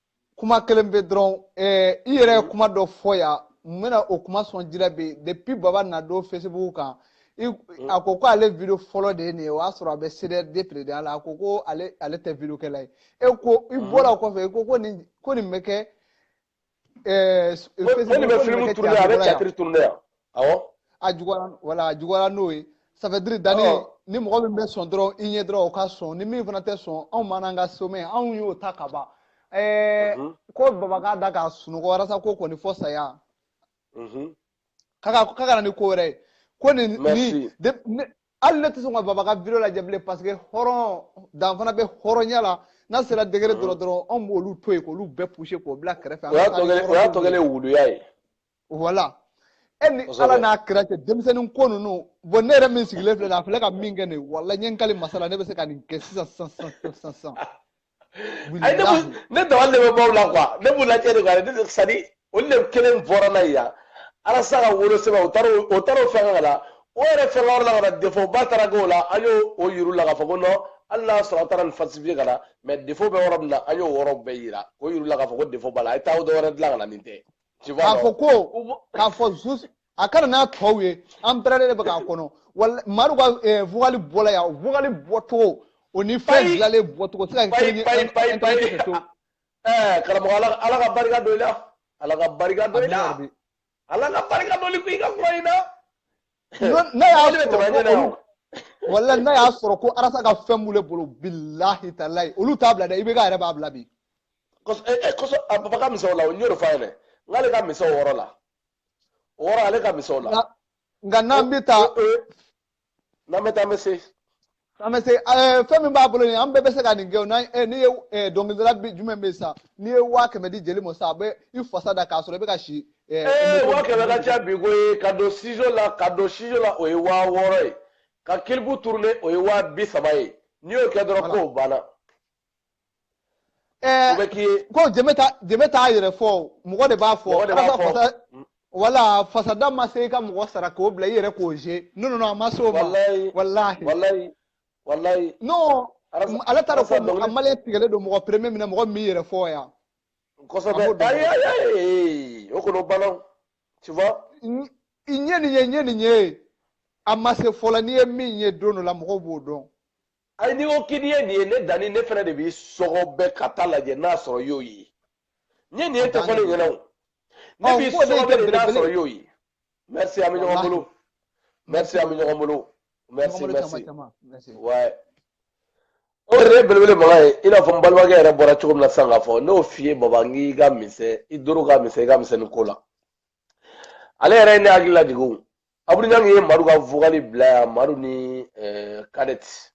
kuma kelen bɛ dɔrɔn ɛɛ i yɛrɛ ye kuma dɔ fɔ yan n bɛna o kuma sɔn jira bi depuis baba na don facebook kan mm. a ko ko ale video fɔlɔ de ye nin ye o y'a sɔrɔ a bɛ cdr de présidentya la a ko ko ale ale tɛ video kɛla ye e ko i mm. bɔra o kɔfɛ i ko ko nin ko nin bɛ kɛ ɛɛ facebook ko nin bɛ film tourner a bɛ théâtre tourner yan awɔ a juguyara wala a juguyara n'o ye ça veut dire danni ni mɔgɔ min bɛ sɔn dɔrɔn i ɲɛ dɔrɔn o ka sɔn ni min fana tɛ sɔn anw man an ka somɛ anw y'o ta ka ban ɛɛ mhm. ko baba k'a da ka sunɔgɔ walasa ko kɔni fɔ saya mhm. k'a ka k'a ka na ni ko wɛrɛ ye ko nin nin de ne hali ne tɛ sɔn ka baba ka video lajɛ bilen parce que hɔrɔn dan fana bɛ hɔrɔnya la n'a sera degré mhm. dɔrɔn dɔrɔn anw b'olu to yen k'olu bɛɛ pousser k'o bila kɛrɛfɛ o y'a tɔ kɛlen o y'a tɔ kɛlen wuluya ye wala e ni ala n'a kira cɛ denmisɛnnin ko ninnu bɔn ne yɛrɛ min sigilen filɛ nin a filɛ ka min kɛ nin wala n ye n kali masa ala ne bɛ se ka nin kɛ sisan sisan sisan sisan sisan ayi ne b'u ne dabali de bɛ ban u la quoi ne b'u lajɛ de quoi ne sani olu de kelen bɔra n'a ye yan arasa ka wolosɛbɛn o taara o taara o fɛn ka la o yɛrɛ fɛn wɛrɛ la ka na defo ba taara k'o la an y'o o yira u la k'a fɔ ko nɔn hali n'a sɔrɔ a taara nin falsifiye ka na mɛ defo bɛ yɔrɔ min na an y'o yɔrɔ bɛɛ yira o yira u la k'a fɔ ko defo b'a la a ye taa o dɔ wɛrɛ dilan ka na nin tɛ k'a fɔ ko k'a fɔ zusi a ka na n'a tɔw ye an pɛrɛlen de bɛ k'a kɔnɔ wala madu ka vocal bɔla yan vocal bɔcogo o ni fɛn dilanlen bɔcogo tɛ se ka kelen ye karamɔgɔ ala ka barika don i la ala ka barika don i la ala ka barika don i ka fura in na ne y'a sɔrɔ wala n'a y'a sɔrɔ ko arasa ka fɛn b'u bolo bilahi talayi olu t'a bila dɛ ibk yɛrɛ b'a bila bi kɔsɔ a baba ka mission la o n y'o de fɔ a ɲɛna n'ale ka mission wɔɔrɔ la o wɔɔrɔ ale ka mission la nka n'an bɛ taa n'an bɛ taa an bɛ se an bɛ se eh, fɛn min b'a bolo nin an bɛɛ bɛ se ka nin kɛ o n'an eh, n'i ye eh, dɔnkilidala bi jumɛn bɛ yen sisan n'i ye waa kɛmɛ di jeli ma sisan a bɛ i fasa da k'a sɔrɔ i bɛ ka si. ee waa kɛmɛ ka ca bi ko ye ka don studio la ka don studio la o ye waa wɔɔrɔ ye ka kilipu turune o ye waa bi saba ye n'i y'o kɛ dɔrɔn ko banna. ɛɛ ko jɛmɛ ta jɛmɛ t'a yɛrɛ fɔ o mɔgɔ de b'a fɔ mɔgɔ de b'a fɔ fasa mm. wala fasada ma se i ka mɔgɔ sara k'o bila i yɛrɛ k'o ze non non a ma se o ma walayi walayi walayi non ale t'a dɔn ko mɔgɔ maliyɛn tigɛlen don mɔgɔ premier min mɔgɔ min yɛrɛ fɔ yan kosɛbɛ ayi ayi ayi o kɔni o banna tu vois n ye nin ye n ye nin ye a ma se fɔlɔ n'i ye min ye don dɔ la mɔgɔw b'o dɔn ayi n'i ko k'i ye nin ye ne danni ne fana de b'i sɔgɔbɛ ka taa lajɛ n'a sɔrɔ i y'o ye n ye nin ye tɛ fɔ ne ɲɛna o ne b'i sɔgɔbɛ de n'a sɔrɔ i y'o ye merci an bɛ ɲɔgɔn bolo merci an bɛ ɲɔgɔn bolo merci merci ouais o yɛrɛ ye belebele makan ye i n'a fɔ n balimakɛ yɛrɛ bɔra cogo min na sisan k'a fɔ n'o f'i ye baba n k'i ka misɛn i doro ka misɛn i ka misɛn nin ko la ale yɛrɛ ye ne hakili lajigin abudu ɲan ye madu ka vokali bila yan madu ni eh, kadɛti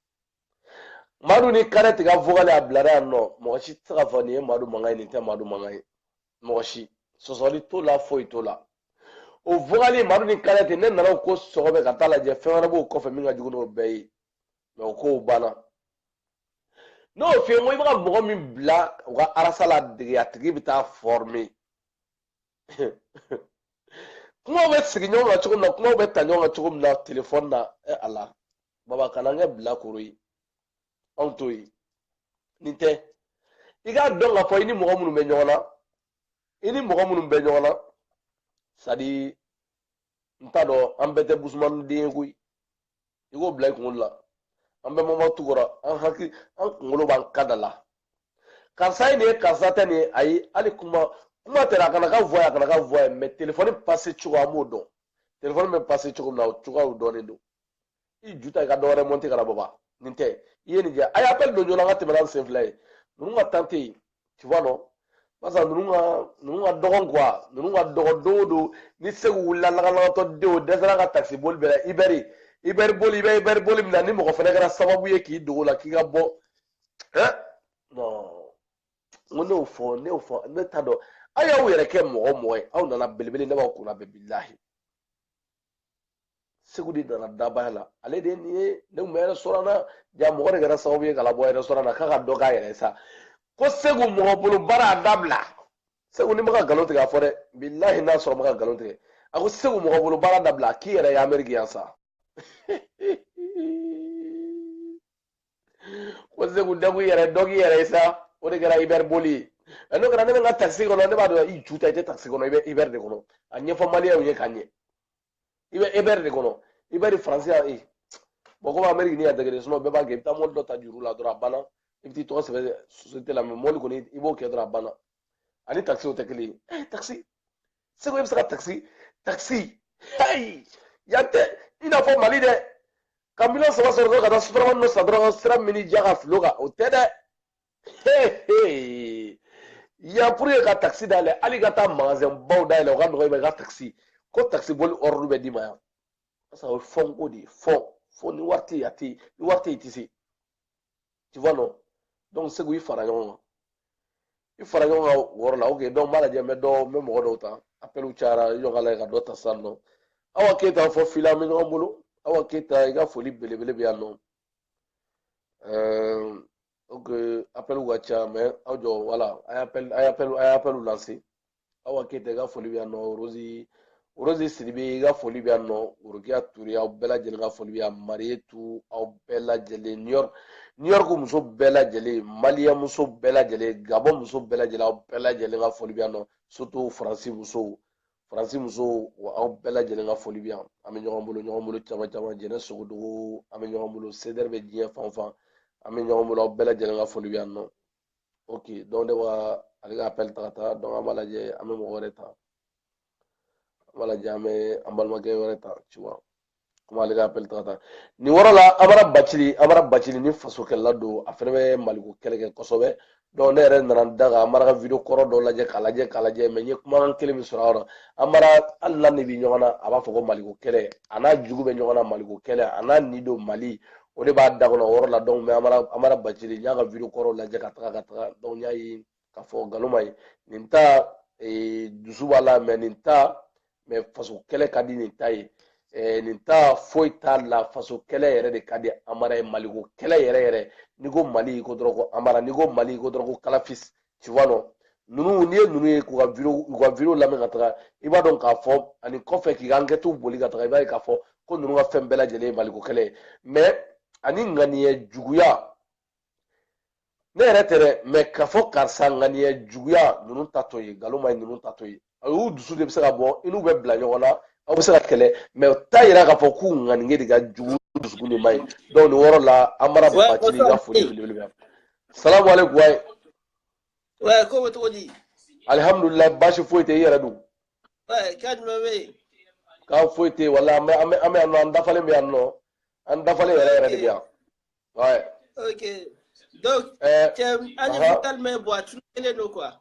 madu ni kadɛti ka vokali a bilara yan non mɔgɔ si tɛ se k'a fɔ nin ye madu mankan ye nin tɛ madu mankan ye mɔgɔ si sɔsɔli t'o la foyi t'o la o vokali madu ni kadɛti ne nan'o ko sɔgɔbɛ ka taa lajɛ fɛn wɛrɛ b'o kɔfɛ min ka jugu n'o bɛɛ ye mɛ o kow banna n'o f'i ye ko i bɛ ka mɔgɔ min bila u ka arasa ladege a tigi bɛ taa fɔrime kumaw bɛ sigi ɲɔgɔn kan cogo min na kumaw bɛ ta ɲɔgɔn kan cogo min na telefɔni na ɛ ala baba kan'an kɛ bilakoro ye anw t'o ye nin tɛ i k'a dɔn k'a fɔ i ni mɔgɔ minnu bɛ ɲɔgɔn na i ni mɔgɔ minnu bɛ ɲɔgɔn na sadi n t'a dɔn an bɛɛ tɛ busumaniden ye koyi i k'o bila i kunkolo la an bɛ mama tukɔrɔ an hakili an kunkolo b'an ka da la karisa ye nin ye karisa tɛ nin ye ayi hali kuma kuma tɛ a kana ka voye a kana ka voye mɛ telefɔni pase cogo an b'o dɔn telefɔni bɛ pase cogo min na o cogoyaw dɔnnen don i ju ta i ka dɔwɛrɛ mɔnte ka na baba nin tɛ i ye nin kɛ a ye appel don joona an ka tɛmɛ n'an sen fila ye ninnu ka tan tɛ yen tu vois non barisa ninnu ka ninnu ka dɔgɔn quoi ninnu ka dɔgɔn don o don ni segu wulila lagalagatɔ den o dɛsɛra ka takisi boli bɛɛ la ibɛri ibɛri boli i bɛ ibɛri boli min na ni mɔgɔ fɛnɛ kɛra sababu ye k'i dogo la k'i ka bɔ hein non n ko ne y'o fɔ ne y'o fɔ ne t'a dɔn aw y'aw yɛrɛ kɛ mɔgɔ mɔgɔ ye aw nana belebele ne b'aw kunna bɛ bilahi segu de nana dabaya la ale de nin ye ne tun bɛ restaurant na yan mɔgɔ de kɛra sababu ye k'a labɔ restaurant na k'a ka dɔ k'a yɛrɛ ye sa ko segu mɔgɔ bolo baara dabila segu ni ma ka nkalon tigɛ a fɔ dɛ bilahi n'a sɔrɔ ma ka nkalon tigɛ a ko segu mɔgɔ bolo baara dabila k'i yɛrɛ ye ameriki yan sa ko segu dɔ k'i yɛrɛ dɔ k'i yɛrɛ ye sa o de kɛra uber boli ye nka n'o kɛra ne bɛ n ka takisi kɔnɔ ne b'a dɔn i ju ta i tɛ takisi kɔnɔ i bɛ uber de kɔnɔ a ɲɛfɔ maliyɛnw ye ka ɲɛ i bɛ uber de kɔnɔ uber faransi y'a ye bɔn komi ameriki ni y'a dɛgɛ de sinɔn bɛɛ b'a kɛ i bɛ taa mɔbili dɔ ta juru la dɔrɔn a banna i bɛ t'i tɔgɔ sɛbɛn sosiyete la mais mɔbili kɔni i b'o kɛ dɔrɔn a banna ani takisi o tɛ kelen ye takisi segu e bɛ se ka takisi takisi heyi yan tɛ i n'a fɔ mali dɛ ka miliyɔn saba sɔrɔ dɔrɔn ka taa sotarama dɔ san dɔrɔn sira min diya k'a fili o kan o tɛ dɛ hehe yan pour que ka takisi dayɛlɛ hali ka taa magasin baw dayɛlɛ o ka nɔgɔ i ma i ka takisi ko takisi boli ordre bɛ d'i ma yan parce que o ye fonds ko de ye fonds fo ni wari tɛ yen a tɛ yen ni wari tɛ yen i tɛ se tu vois non donc segu i fara ɲɔgɔn kan i fara ɲɔgɔn kan o yɔrɔ la ok donc n b'a lajɛ n bɛ dɔ n bɛ mɔgɔ dɔw ta appelw cayara i jɔ ka lajɛ ka dɔ ta sisan nɔ awa keyita fɔ fila bɛ ɲɔgɔn bolo awa keyita i ka foli belebele bɛ yan nɔ ok appelw ka ca mais aw jɔ wala a ye appel a ye appel a ye appelw lase awa keyita i ka foli bɛ yan nɔ rosi rosi sidibe i ka foli bɛ yan nɔ worokiya ture aw bɛɛ lajɛlen ka foli bɛ yan mariyetu aw bɛɛ lajɛlen new york new york muso bɛɛ lajɛlen maliyɛn muso bɛɛ lajɛlen gabɔn muso bɛɛ lajɛlen aw bɛɛ lajɛlen ka foli bɛ yan nɔ surtout faransi musow faransi musow wa aw bɛɛ lajɛlen ka foli bɛ yan an bɛ ɲɔgɔn bolo ɲɔgɔn bolo caman caman jɛnɛ sogodogo an bɛ ɲɔgɔn bolo sedɛri bɛ diɲɛ fan fan an bɛ ɲɔgɔn bolo aw bɛɛ lajɛlen ka foli bɛ yan nɔ ok donc ne bɔra ale ka appel ta ka taa donc an b'a lajɛ an bɛ mɔgɔ wɛrɛ ta an b'a lajɛ an bɛ an balimakɛ wɛrɛ ta tu vois komi ale ka appel ta ka taa nin yɔrɔ la amara bacili amara bacili nin fasokɛlɛla don a fɛnɛ bɛ maliko kɛlɛ kɛ kosɛbɛ donc ne yɛrɛ nana n da ka amara ka video kɔrɔ dɔ lajɛ k'a lajɛ k'a lajɛ mais n ye kumakan kelen min sɔrɔ a yɔrɔ amara hali n'a n'i bɛ ɲɔgɔn na a b'a fɔ ko maliko kɛlɛ a n'a jugu bɛ ɲɔgɔn na maliko kɛlɛ a n'a ni don mali o de b'a da kɔnɔ o yɔrɔ la donc mais amara amara bacili n y'a ka video kɔrɔw lajɛ ka taga ka taga donc n y'a ye k'a fɔ nkalon man ɲi nin ta eh, dusu b'a la mais nin ta mais faso kɛlɛ ka di nin ta ye eh, nin ta foyi t'a la faso kɛlɛ yɛrɛ de ka di amara ye maliko kɛlɛ yɛrɛ yɛrɛ n'i ko mali i ko dɔrɔn ko amara n'i ko mali i ko dɔrɔn ko kalafis tu vois non ninnu n'i ye ninnu ye k'u ka video u ka video lamɛn ka taga i b'a dɔn k'a fɔ ani kɔfɛ k'i ka enquêtew boli ka taga i b'a ye k'a fɔ ko ninnu ka fɛn bɛɛ lajɛlen ye maliko kɛlɛ ye mais ani ŋaniya juguya ne yɛrɛ tɛ dɛ mais k'a fɔ karisa ŋaniya juguya ninnu ta t'o ye nkalon man ɲi ninnu ta t'o ye a y'u dusu de bɛ se ka bɔ i n'u bɛ bila ɲɔgɔn na aw bɛ se ka kɛlɛ mɛ o t'a yira k'a fɔ k'u ŋaniye de ka jugu dusukun de man ɲi donc nin yɔrɔ la Amara Bathily ka foli belebele bɛ salamu aleykum wayi wɛ ko bɛ cogo di alihamudulila baasi foyi tɛ i yɛrɛ dun wɛ ko jumɛn bɛ yen ko foyi tɛ yen wala an bɛ an bɛ an bɛ yan nɔ an dafalen bɛ yan nɔ an dafalen yɛrɛ yɛrɛ de bɛ yan Ouais. Ok. Donc, euh, tu as uh-huh. tellement bois, tu ne nous quoi.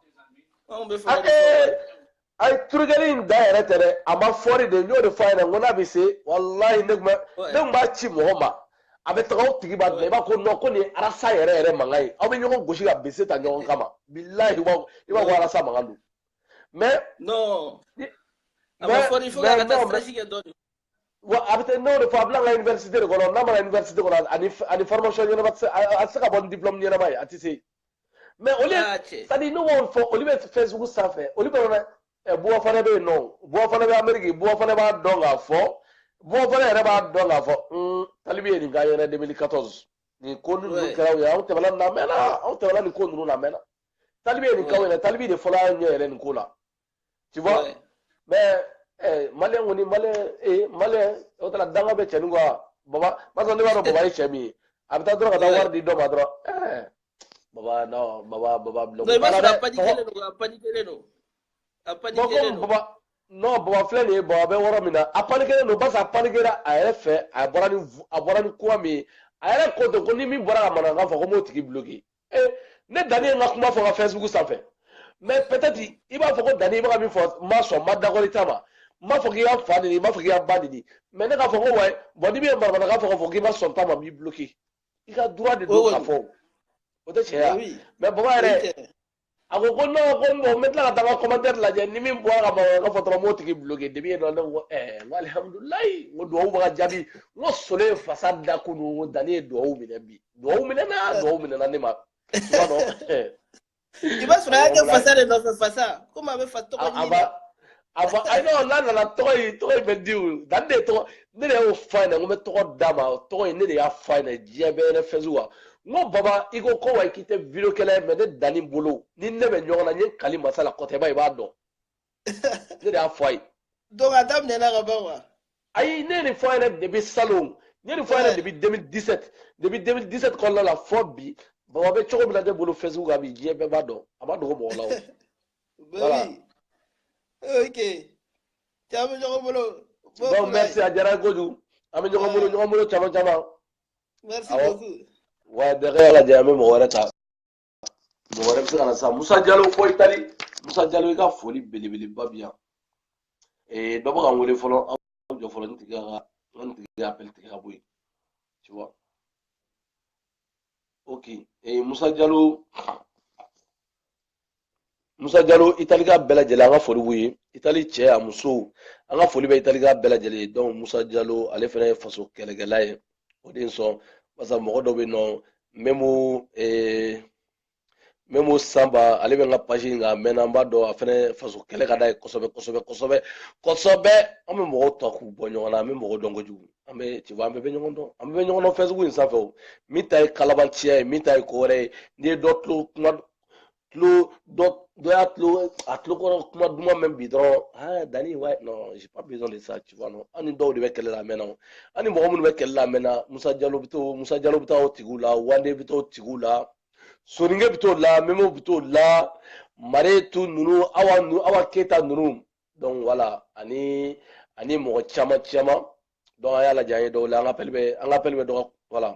On peut faire. ay turugɛli in da yɛrɛ tɛ dɛ a ma fɔri dɛ n y'o de fɔ a ɲɛna n ko n'a bɛ se walayi ne tun bɛ ne tun b'a ci mɔgɔ ma a bɛ taga o tigi b'a dilan i b'a ko nɔn ko nin ye arasa yɛrɛ yɛrɛ mankan ye aw bɛ ɲɔgɔn gosi ka bese ta ɲɔgɔn kama bilayi i b'a i b'a ko arasa mankan don mɛ. non a ma fɔri fo ka taa stage kɛ dɔɔni. wa a bɛ n'o de fɔ a bɛ na université de kɔnɔ n'a ma na université kɔnɔ ani ani formation ɲɛnama tɛ se a tɛ se ka bɔ ni diplôme ɲɛnama ye a tɛ se mais olu ah, c'est à dire ne b'o fɔ olu bɛ Facebook sanfɛ olu bɛ na ɛ buwa fana bɛ yen nɔ buwa fana bɛ Amérique buwa fana b'a dɔn k'a fɔ buwa fana yɛrɛ b'a dɔn k'a fɔ un talibi ye nin k'a ɲɛna 2014 nin ko ninnu kɛra u ye anw tɛmɛna nin na a mɛnna anw tɛmɛna nin ko ninnu na a mɛnna talibi ye nin k'aw ɲɛna talibi de fɔlɔ y'a ɲɛ yɛrɛ nin ko la Tu vois Mais eh, malien kɔni malien eh, malien o tana danga bɛ cɛnin quoi baba barisa ne b'a dɔn baba ye cɛ min ye a bɛ taa dɔrɔn ka taa wari di dɔ ma dɔrɔn eh, baba non baba baba bilon non i b'a sɔrɔ a panikelen don a panikelen don a panikelen don baba non baba filɛ nin ye baba bɛ yɔrɔ min na a panikelen don barisa a panikera a yɛrɛ fɛ a bɔra ni a bɔra ni kuma min ye a yɛrɛ ko ten ko ni min bɔra ka mankan fɔ ko n b'o tigi bloquer ee ne danni ye n ka kuma fɔ Facebook sanfɛ mɛ peut-être i b'a fɔ ko danni i bɛ ka min fɔ n ma sɔn n ma d'accord i ta ma n b'a fɔ k'i k'a fa neni n b'a fɔ k'i k'a ba neni mɛ ne k'a fɔ ko wa bɔn n'i bɛ maramana k'a fɔ k'a fɔ k'i ma sɔn n ta ma n b'i bloqué i ka droit de don k'a fɔ o tɛ tiɲɛ ye mɛ baba yɛrɛ a ko ko non ko bon n bɛ tila ka taa n ka commentaire lajɛ ni min bɔra ka ban ka fɔ dɔrɔn n b'o tigi bloqué depuis yen nɔ ne ko ɛɛ n ko alihamudulilayi n ko duwawu bɛ ka jaabi n ko solo ye fasa da kunun ko danni ye duwawu minɛ bi duwawu minɛna duwawu minɛna ne ma i b'a dɔn i b'a sɔrɔ a y'a kɛ fasa de nɔfɛ fasa komi a bɛ fa tɔgɔ ɲini a fɔ ayi n'o n'a nana tɔgɔ in tɔgɔ in bɛ di o dan de tɔgɔ ne de y'o fɔ a ɲɛna ko n bɛ tɔgɔ d'a ma o tɔgɔ in ne de y'a fɔ a ɲɛna diɲɛ bɛɛ yɛrɛ fɛn sugu n ko baba i ko ko wa k'i tɛ video kɛlɛ ye mɛ ne danni bolo ni ne bɛ ɲɔgɔn na n ye kali masa la kɔtɛba i b'a dɔn ne de y'a fɔ a ye. donc a daminɛna ka ban wa. ayi ne ye nin fɔ a ɲɛna depuis salon n ye nin fɔ a ɲɛna depuis 2017 depuis 2017 kɔnɔna la fo bi baba bɛ cogo min na ne bolo facebook kan bi diɲɛ bɛɛ b'a dɔn a ma dogo mɔgɔ la o. Voilà. ok. Ciao, ɲɔgɔn bolo. Donc, merci, a diyara kojugu. An bɛ ɲɔgɔn bolo, ɲɔgɔn bolo caman caman. Merci beaucoup. Wa donc an y'a lajɛ, an bɛ mɔgɔ wɛrɛ ta. Mɔgɔ wɛrɛ bɛ se ka na sisan. Musa Jalo fɔ Itali. Musa Jalo, i ka foli belebeleba bɛ yan. Ee, dɔ bɛ ka n wele fɔlɔ, aw jɔ fɔlɔ, n tigi ka n tigi ka appel tigɛ ka bɔ yen. Tu vois? Ok. Ee, Musa Jalo. musa jalo italika bɛɛ lajɛlen an ka foli b'u ye itali cɛ n'a musow an ka foli bɛ italika bɛɛ lajɛlen ye donc musa jalo ale fana ye faso kɛlɛkɛla ye o de sɔn barisa mɔgɔ dɔ bɛ nɔ mɛmu eh, mɛmu sanba ale bɛ n ka page in kan a mɛnna an b'a dɔn a fana faso kɛlɛ ka d'a ye kosɛbɛ kosɛbɛ kosɛbɛ kosɛbɛ an bɛ mɔgɔw ta k'u bɔ ɲɔgɔn na an bɛ mɔgɔw dɔn kojugu an bɛ ci an bɛɛ bɛ ɲɔgɔn dɔn an bɛɛ bɛ ɲɔgɔn dɔn facebook in sanfɛ o min ta ye kalabanciya ye min ta ye ko wɛrɛ ye n'i ye dɔ tulo kuma tulo dɔ dɔ y'a tulo a tulo kɔrɔ kuma duman mɛn bi dɔrɔn aa dani wa non j'ai pas besoin de ça tu vois non an ni dɔw de bɛ kɛlɛ la a mɛnna o an ni mɔgɔ minnu bɛ kɛlɛ la a mɛnna musa jalo bɛ to musa jalo bɛ taa o tigiw la wande bɛ t'o tigiw la soninkɛ bɛ t'o la mɛmu bɛ t'o la maretu ninnu awa ninnu awa keyita ninnu donc voilà ani ani mɔgɔ caman caman donc an y'a lajɛ an ye dɔw la an ka pɛli bɛ an ka pɛli bɛ dɔgɔ wala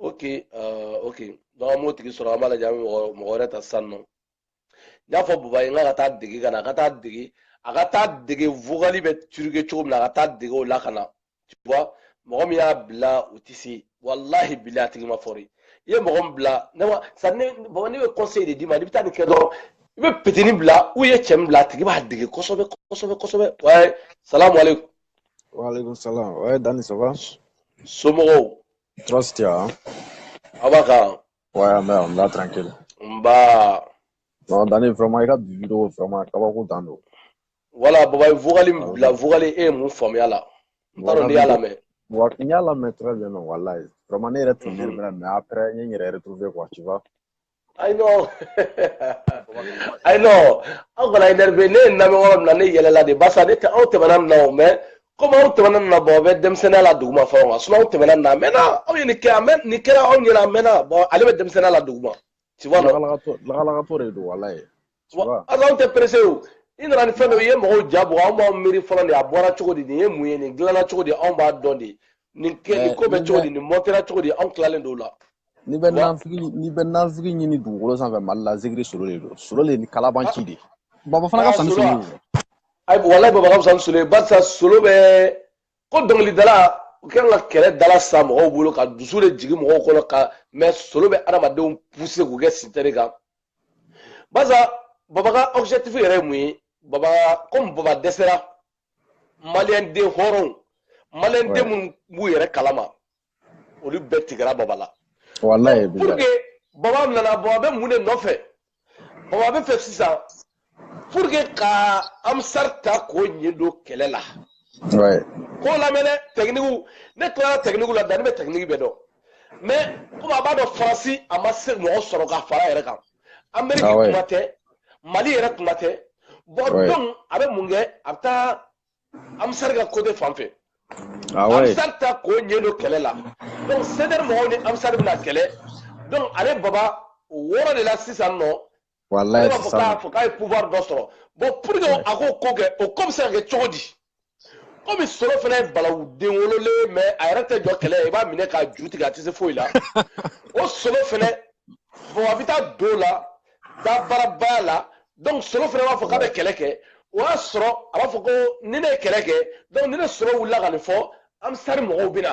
ok uh, ok donc an b'o tigi sɔrɔ an b'a lajɛ an bɛ mɔgɔ mɔgɔ wɛrɛ ta sisan non n y'a fɔ baba ye n k'a ka taa dege ka na a ka taa dege a ka taa dege vocal bɛ truqué cogo min na a ka taa dege o la ka na tu vois mɔgɔ min y'a bila u tɛ se walahi bila a tigi man fɔri i ye mɔgɔ min bila ne ma sa ne baba ne bɛ conseil de d'i ma n'i bɛ taa nin kɛ dɔrɔn i bɛ pitini bila u ye cɛ min bila a tigi b'a dege kosɛbɛ kosɛbɛ kosɛbɛ wa salamu aleykum Waaleykum salaam waaye Dani ça va. somɔgɔw. Tɔɔrɔ si t'a la. aw b'a kan. waaye an bɛ yan n bɛ tranquille. nba. non Dani vraiment i ka bi video vraiment kabako dan don. voilà baba ye vocal min bila vocal e ye mun faamuya la. n t'a dɔn n'i y'a lamɛn. wa n y'a lamɛn très bien non walayi vraiment ne yɛrɛ tun bɛ énervé la mais après n ye n yɛrɛ retrouver quoi tu vois. Ayi non. Ayi non. Aw kana énervé ne y'a lamɛn yɔrɔ min na ne yɛlɛla de barisa ne tɛ aw tɛmɛna nin na o mais komi aw tɛmɛna nin na bon a bɛ denmisɛnninya la duguma fɔlɔ kan sinon aw tɛmɛna nin na a mɛnna aw ye nin kɛ a mɛn nin kɛra aw ɲɛna a mɛnna bon ale bɛ denmisɛnniya la duguma tu vois non. Lakalakatɔ lakalakatɔ de don walayi. anw tɛ perese o i nana ni fɛn dɔ ye mɔgɔw ja bɔ anw b'an miiri fɔlɔ de a bɔra cogo di nin ye mun ye nin dilanna cogo di anw b'a dɔn de nin kɛ nin ko bɛ cogo di nin mɔntera cogo di anw tilalen don o la n'i bɛ nanfigi n'i bɛ nanfigi ɲini dugukolo sanfɛ mali la zikiri solo de don solo de ni kalabanci de baba fana ka fisa ni solo ye walayi baba ka fisa ni solo ye barisa solo bɛ ko dɔnkilidalaw kɛra ka kɛlɛ de lasa mɔgɔw bolo ka dusu de jigin mɔgɔw kɔnɔ mais solo bɛ adamadenw puse k'u kɛ sitɛri kan baza baba ka objectif yɛrɛ ye mun ye baba komi baba dɛsɛra maliyɛn den hɔrɔnw maliyɛn den minnu b'u yɛrɛ kalama olu bɛɛ tigɛra baba la pour que baba nana baba bɛ mun de nɔfɛ baba b'a fɛ sisan pour que ka amsari ta k'o ɲɛ don kɛlɛ la ko lamɛn dɛ tɛkinikiw ne tilara tɛkinikiw la danni bɛ tɛkiniki bɛɛ dɔn mɛ komi a b'a dɔn faransi a ma se mɔgɔ sɔrɔ ka fara yɛrɛ kan ameriki ah kuma tɛ mali yɛrɛ kuma tɛ bɔn donc a bɛ mun kɛ a bɛ taa amsari ka kote fan fɛ ah amsari ta k'o ɲɛ don kɛlɛ la donc sɛdɛri mɔgɔw ni amsari bɛna kɛlɛ donc ale baba b'o yɔrɔ de la sisan nɔ wallahi ne b'a fɔ sisan k'a fɔ k'a ye pouvoir dɔ sɔrɔ bon pour que a k'o ko kɛ o ko bɛ se ka kɛ cogo di komi solo fana ye balawu den wololen mais a yɛrɛ tɛ jɔ kɛlɛ ye i b'a minɛ k'a ju tigɛ a tɛ se foyi la o solo fana bon a bɛ taa don la dabarabaya la donc solo fana b'a fɔ k'a bɛ kɛlɛ kɛ o y'a sɔrɔ a b'a fɔ ko ni ne ye kɛlɛ kɛ donc ni ne solo wulila ka nin fɔ amsari mɔgɔw bɛ na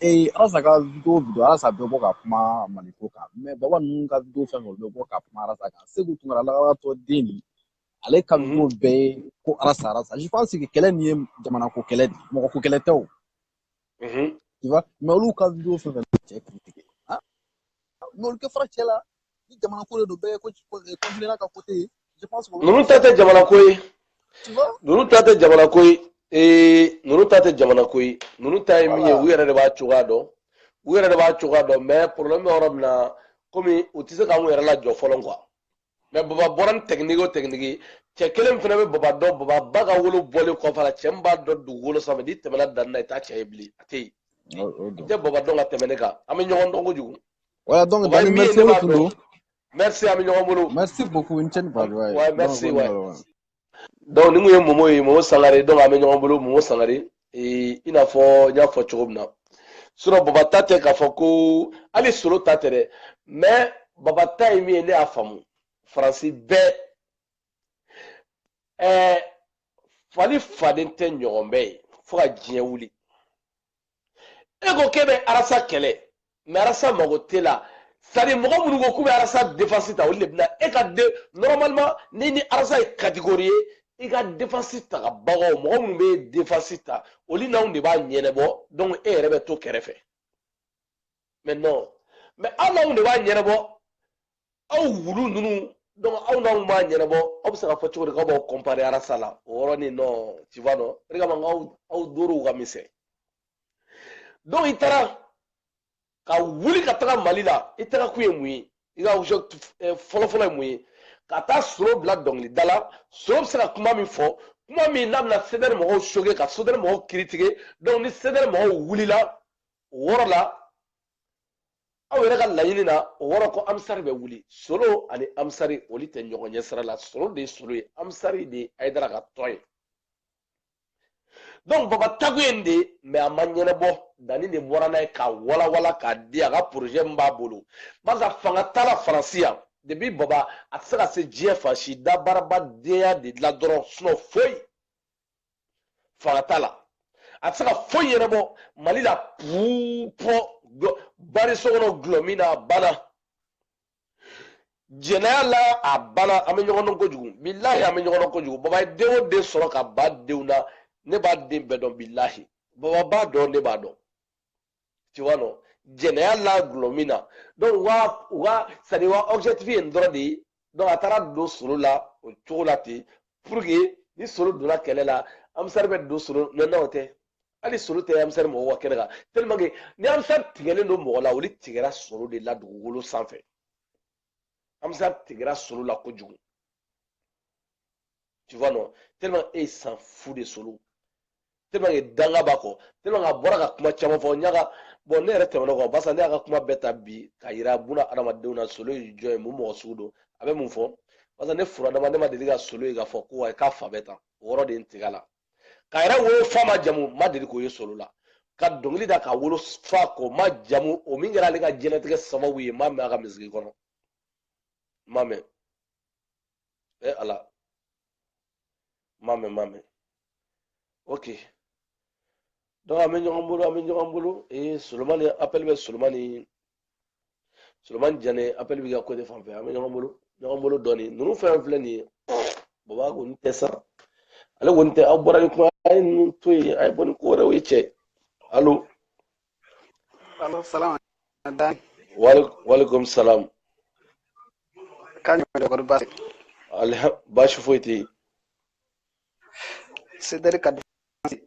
ee arasa ka video video arasa bɛ bɔ ka kuma maliko kan mɛ baba ninnu ka video fɛn fɛn bɛ bɔ ka kuma arasa kan segu tunkara lagalagatɔ den nin ale ka mhm. video bɛɛ ye ko arasa arasa je pense que kɛlɛ nin ye jamana ko kɛlɛ de mɔgɔ ko kɛlɛ tɛ o mhm. tu vois mɛ olu ka video fɛn fɛn cɛ kiri tigɛ n'olu tɛ fara cɛ la ni jamana ko de don bɛɛ ye ko kɔntinɛna ka kote ye je pense que ninnu ta tɛ jamana ko ye tu vois ninnu ta tɛ jamana ko ye ee ninnu ta tɛ jamana ko ye ninnu ta ye min ye u yɛrɛ de b'a cogoya dɔn u yɛrɛ de b'a cogoya dɔn mais problème bɛ yɔrɔ min na komi u tɛ se k'u yɛrɛ lajɔ fɔlɔ quoi mɛ baba bɔra ni tɛkiniki o tɛkiniki cɛ kelen fana bɛ baba dɔn baba ba ka wolo bɔlen kɔfɛ la cɛ min b'a dɔn dugukolo sanfɛ n'i tɛmɛna danni na i t'a cɛ ye bilen a tɛ yen i tɛ baba dɔn ka tɛmɛ ne kan an bɛ ɲɔgɔn dɔn kojugu voilà donc dani merci o tun don merci an bɛ ɲɔgɔn bolo merci beaucoup i ni ce ni badenya ye merci waay dɔnku nin kun ye momo ye momo sangare dɔnku an bɛ ɲɔgɔn bolo momo sangare i n'a fɔ n y'a fɔ cogo min na surɔ baba ta tɛ k'a fɔ ko hali solo ta tɛ dɛ mɛ baba ta ye min ye ne y'a faamu faransi bɛɛ ɛɛ fali faden tɛ ɲɔgɔn bɛɛ ye fo ka diɲɛ wuli e ko k'e bɛ arasa kɛlɛ mɛ arasa mago t'e la sari mɔgɔ minnu ko k'u bɛ arasa defansi ta olu de bɛna e ka de normalement ni ni arasa ye catégorie ye i ka defansi tabagaw mɔgɔ minnu b'i defansi ta olu n'anw de b'a ɲɛnɛbɔ donc e yɛrɛ bɛ to kɛrɛfɛ mɛ non mɛ anw n'anw de b'a ɲɛnɛbɔ aw wulu ninnu donc aw n'anw b'a ɲɛnabɔ aw bɛ se k'a fɔ cogo di k'aw b'aw kɔnpare arasa la o yɔrɔnin na tu vois non o de kama n k'aw aw dorow ka misɛn donc i taara ka wuli ka taga mali la i taga kun ye mun ye i ka wusu fɔlɔfɔlɔ ye mun ye ka taa solo bila dɔnkilida la solo bɛ se ka kuma min fɔ kuma min n'a bɛna sedɛri mɔgɔw choquer ka sedɛri mɔgɔw critiquer donc ni sedɛri mɔgɔw wulila o yɔrɔ la aw yɛrɛ ka laɲini na o yɔrɔ ko amisari bɛ wuli solo ani amisari olu tɛ ɲɔgɔn ɲɛ sira la solo de ye solo ye amisari de ye ayidara ka tɔn ye donc baba taa kun ye nin de ye mais a ma ɲɛnabɔ danni de bɔra n'a ye k'a walawala k'a di a ka projet min b'a bolo parce que fanga t'a la faransi yan depuis baba a tɛ se ka se diɲɛ fan si dabaaraba denya de la dɔrɔn sinon foyi fanga t'a la a tɛ se ka foyi ɲɛnabɔ mali la puupɔ bari so kɔnɔ dɔlɔmin na a banna jɛnɛya la a banna an bɛ ɲɔgɔn dɔn kojugu bilahi an bɛ ɲɔgɔn dɔn kojugu baba ye den o den sɔrɔ ka ba denw na ne b'a den bɛɛ dɔn bilahi baba b'a dɔn ne b'a dɔn tu vois non jɛnɛya la dɔlɔmin na donc u ka u ka sani wa objectif ye nin dɔrɔn de ye donc a taara don solo la o cogo la ten pour que ni solo donna kɛlɛ la amisari bɛ don solo mais n'o tɛ hali solo tɛ amisari mɔgɔw ka kɛnɛ kan tellement que ni amisari tigɛlen don mɔgɔ la olu tigɛra solo de la dugukolo sanfɛ amisari tigɛra solo la kojugu tu vois non tellement e ye s'en fout de solo tellement que danga b'a kɔ tellement que a bɔra ka kuma caman fɔ n y'a ka bon ne yɛrɛ tɛmɛna kɔ barisa ne y'a ka kuma bɛɛ ta bi k'a yira buna adamadenw na solo ye jɔn ye mun mɔgɔ sugu don a bɛ mun fɔ barisa ne furadama ne ma deli ka solo ye k'a fɔ ko ayi k'a fa bɛ tan o yɔrɔ de ye n tigɛ a la k'a yɛrɛ wolofa majamu ma deli k'o ye solo la ka dɔnkili da k'a wolofa k'o majamu o min kɛra ale ka diɲɛlatigɛ sababu ye m'a mɛn a ka miziki kɔnɔ m'a mɛn e ala m'a mɛn m'a mɛn ok donc an bɛ ɲɔgɔn bolo an bɛ ɲɔgɔn bolo ee solomani appel bɛ solomani solomani jane appel bɛ ka ko de fan fɛ an bɛ ɲɔgɔn bolo ɲɔgɔn bolo dɔɔnin ninnu fɛn filɛ nin ye baba kɔni tɛ sa ale kɔni tɛ aw bɔra ni kuma a ye ninnu to yen a ye bɔ ni ko wɛrɛw ye cɛ alo alo salam dan walekum salam k'a ɲɔgɔn dɔ kɔni baasi baasi foyi tɛ yen Cedric Kadusi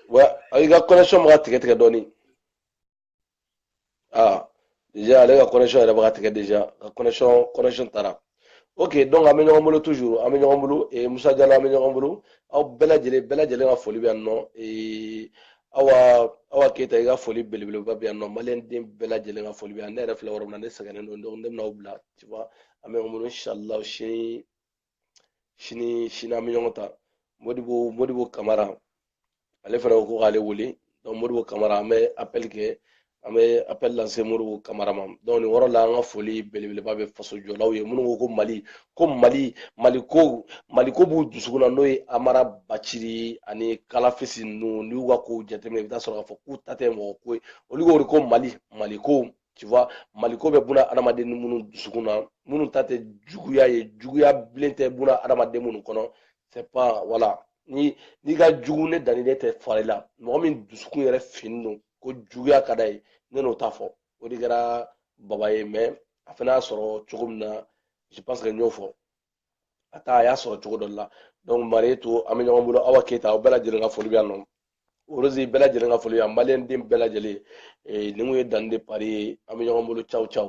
wa i ka connection bɛ ka tigɛ tigɛ dɔɔnin ah déjà ale ka connection yɛrɛ bɛ ka tigɛ déjà ka connection connection taara ok donc an bɛ ɲɔgɔn bolo toujours an bɛ ɲɔgɔn bolo eh, Musa Jalo an bɛ ɲɔgɔn bolo aw bɛɛ lajɛlen bɛɛ lajɛlen ka foli bɛ yan nɔ eh, awa awa Keyita i ka foli belebeleba bɛ yan nɔ maliyɛnden bɛɛ lajɛlen ka foli bɛ yan ne yɛrɛ filɛ yɔrɔ min na ne sɛgɛnnen don donc ne bɛna aw bila tu vois an bɛ mun inshallah sini sini sini an bɛ ɲɔgɔn ta modibo modibo kamara ale fana ko k'ale wele donc modibo kamara an bɛ appel kɛ an bɛ appel lase modibo kamara ma donc nin yɔrɔ la an ka foli belebeleba bɛ faso jɔlaw ye minnu ko ko mali ko mali mali ko mali ko b'u dusukun na n'o ye amara baciri ani kalafisi ninnu n'i y'u ka kow jateminɛ i bɛ taa sɔrɔ k'a fɔ k'u ta tɛ mɔgɔ ko ye olu ko de ko mali mali ko tu vois maliko bɛ bunadamaden ni minnu dusukun na minnu ta tɛ juguya ye juguya bilen tɛ bunadamaden minnu kɔnɔ c'est pas voilà ni n'i ka jugu ne Dani ne tɛ fari la mɔgɔ min dusukun yɛrɛ finnen don ko juguya ka d'a ye ne n'o t'a fɔ o de kɛra baba ye mais a fana y'a sɔrɔ cogo min na je pense que n y'o fɔ a taa a y'a sɔrɔ cogo dɔ la donc mariyetu an bɛ ɲɔgɔn bolo awa keyita aw bɛɛ lajɛlen ka foli bɛ yan nɔ orozi bɛɛ lajɛlen ka foli yan maliyɛnden bɛɛ lajɛlen nin kun ye Dani de Paris ye an bɛ ɲɔgɔn bolo ciao ciao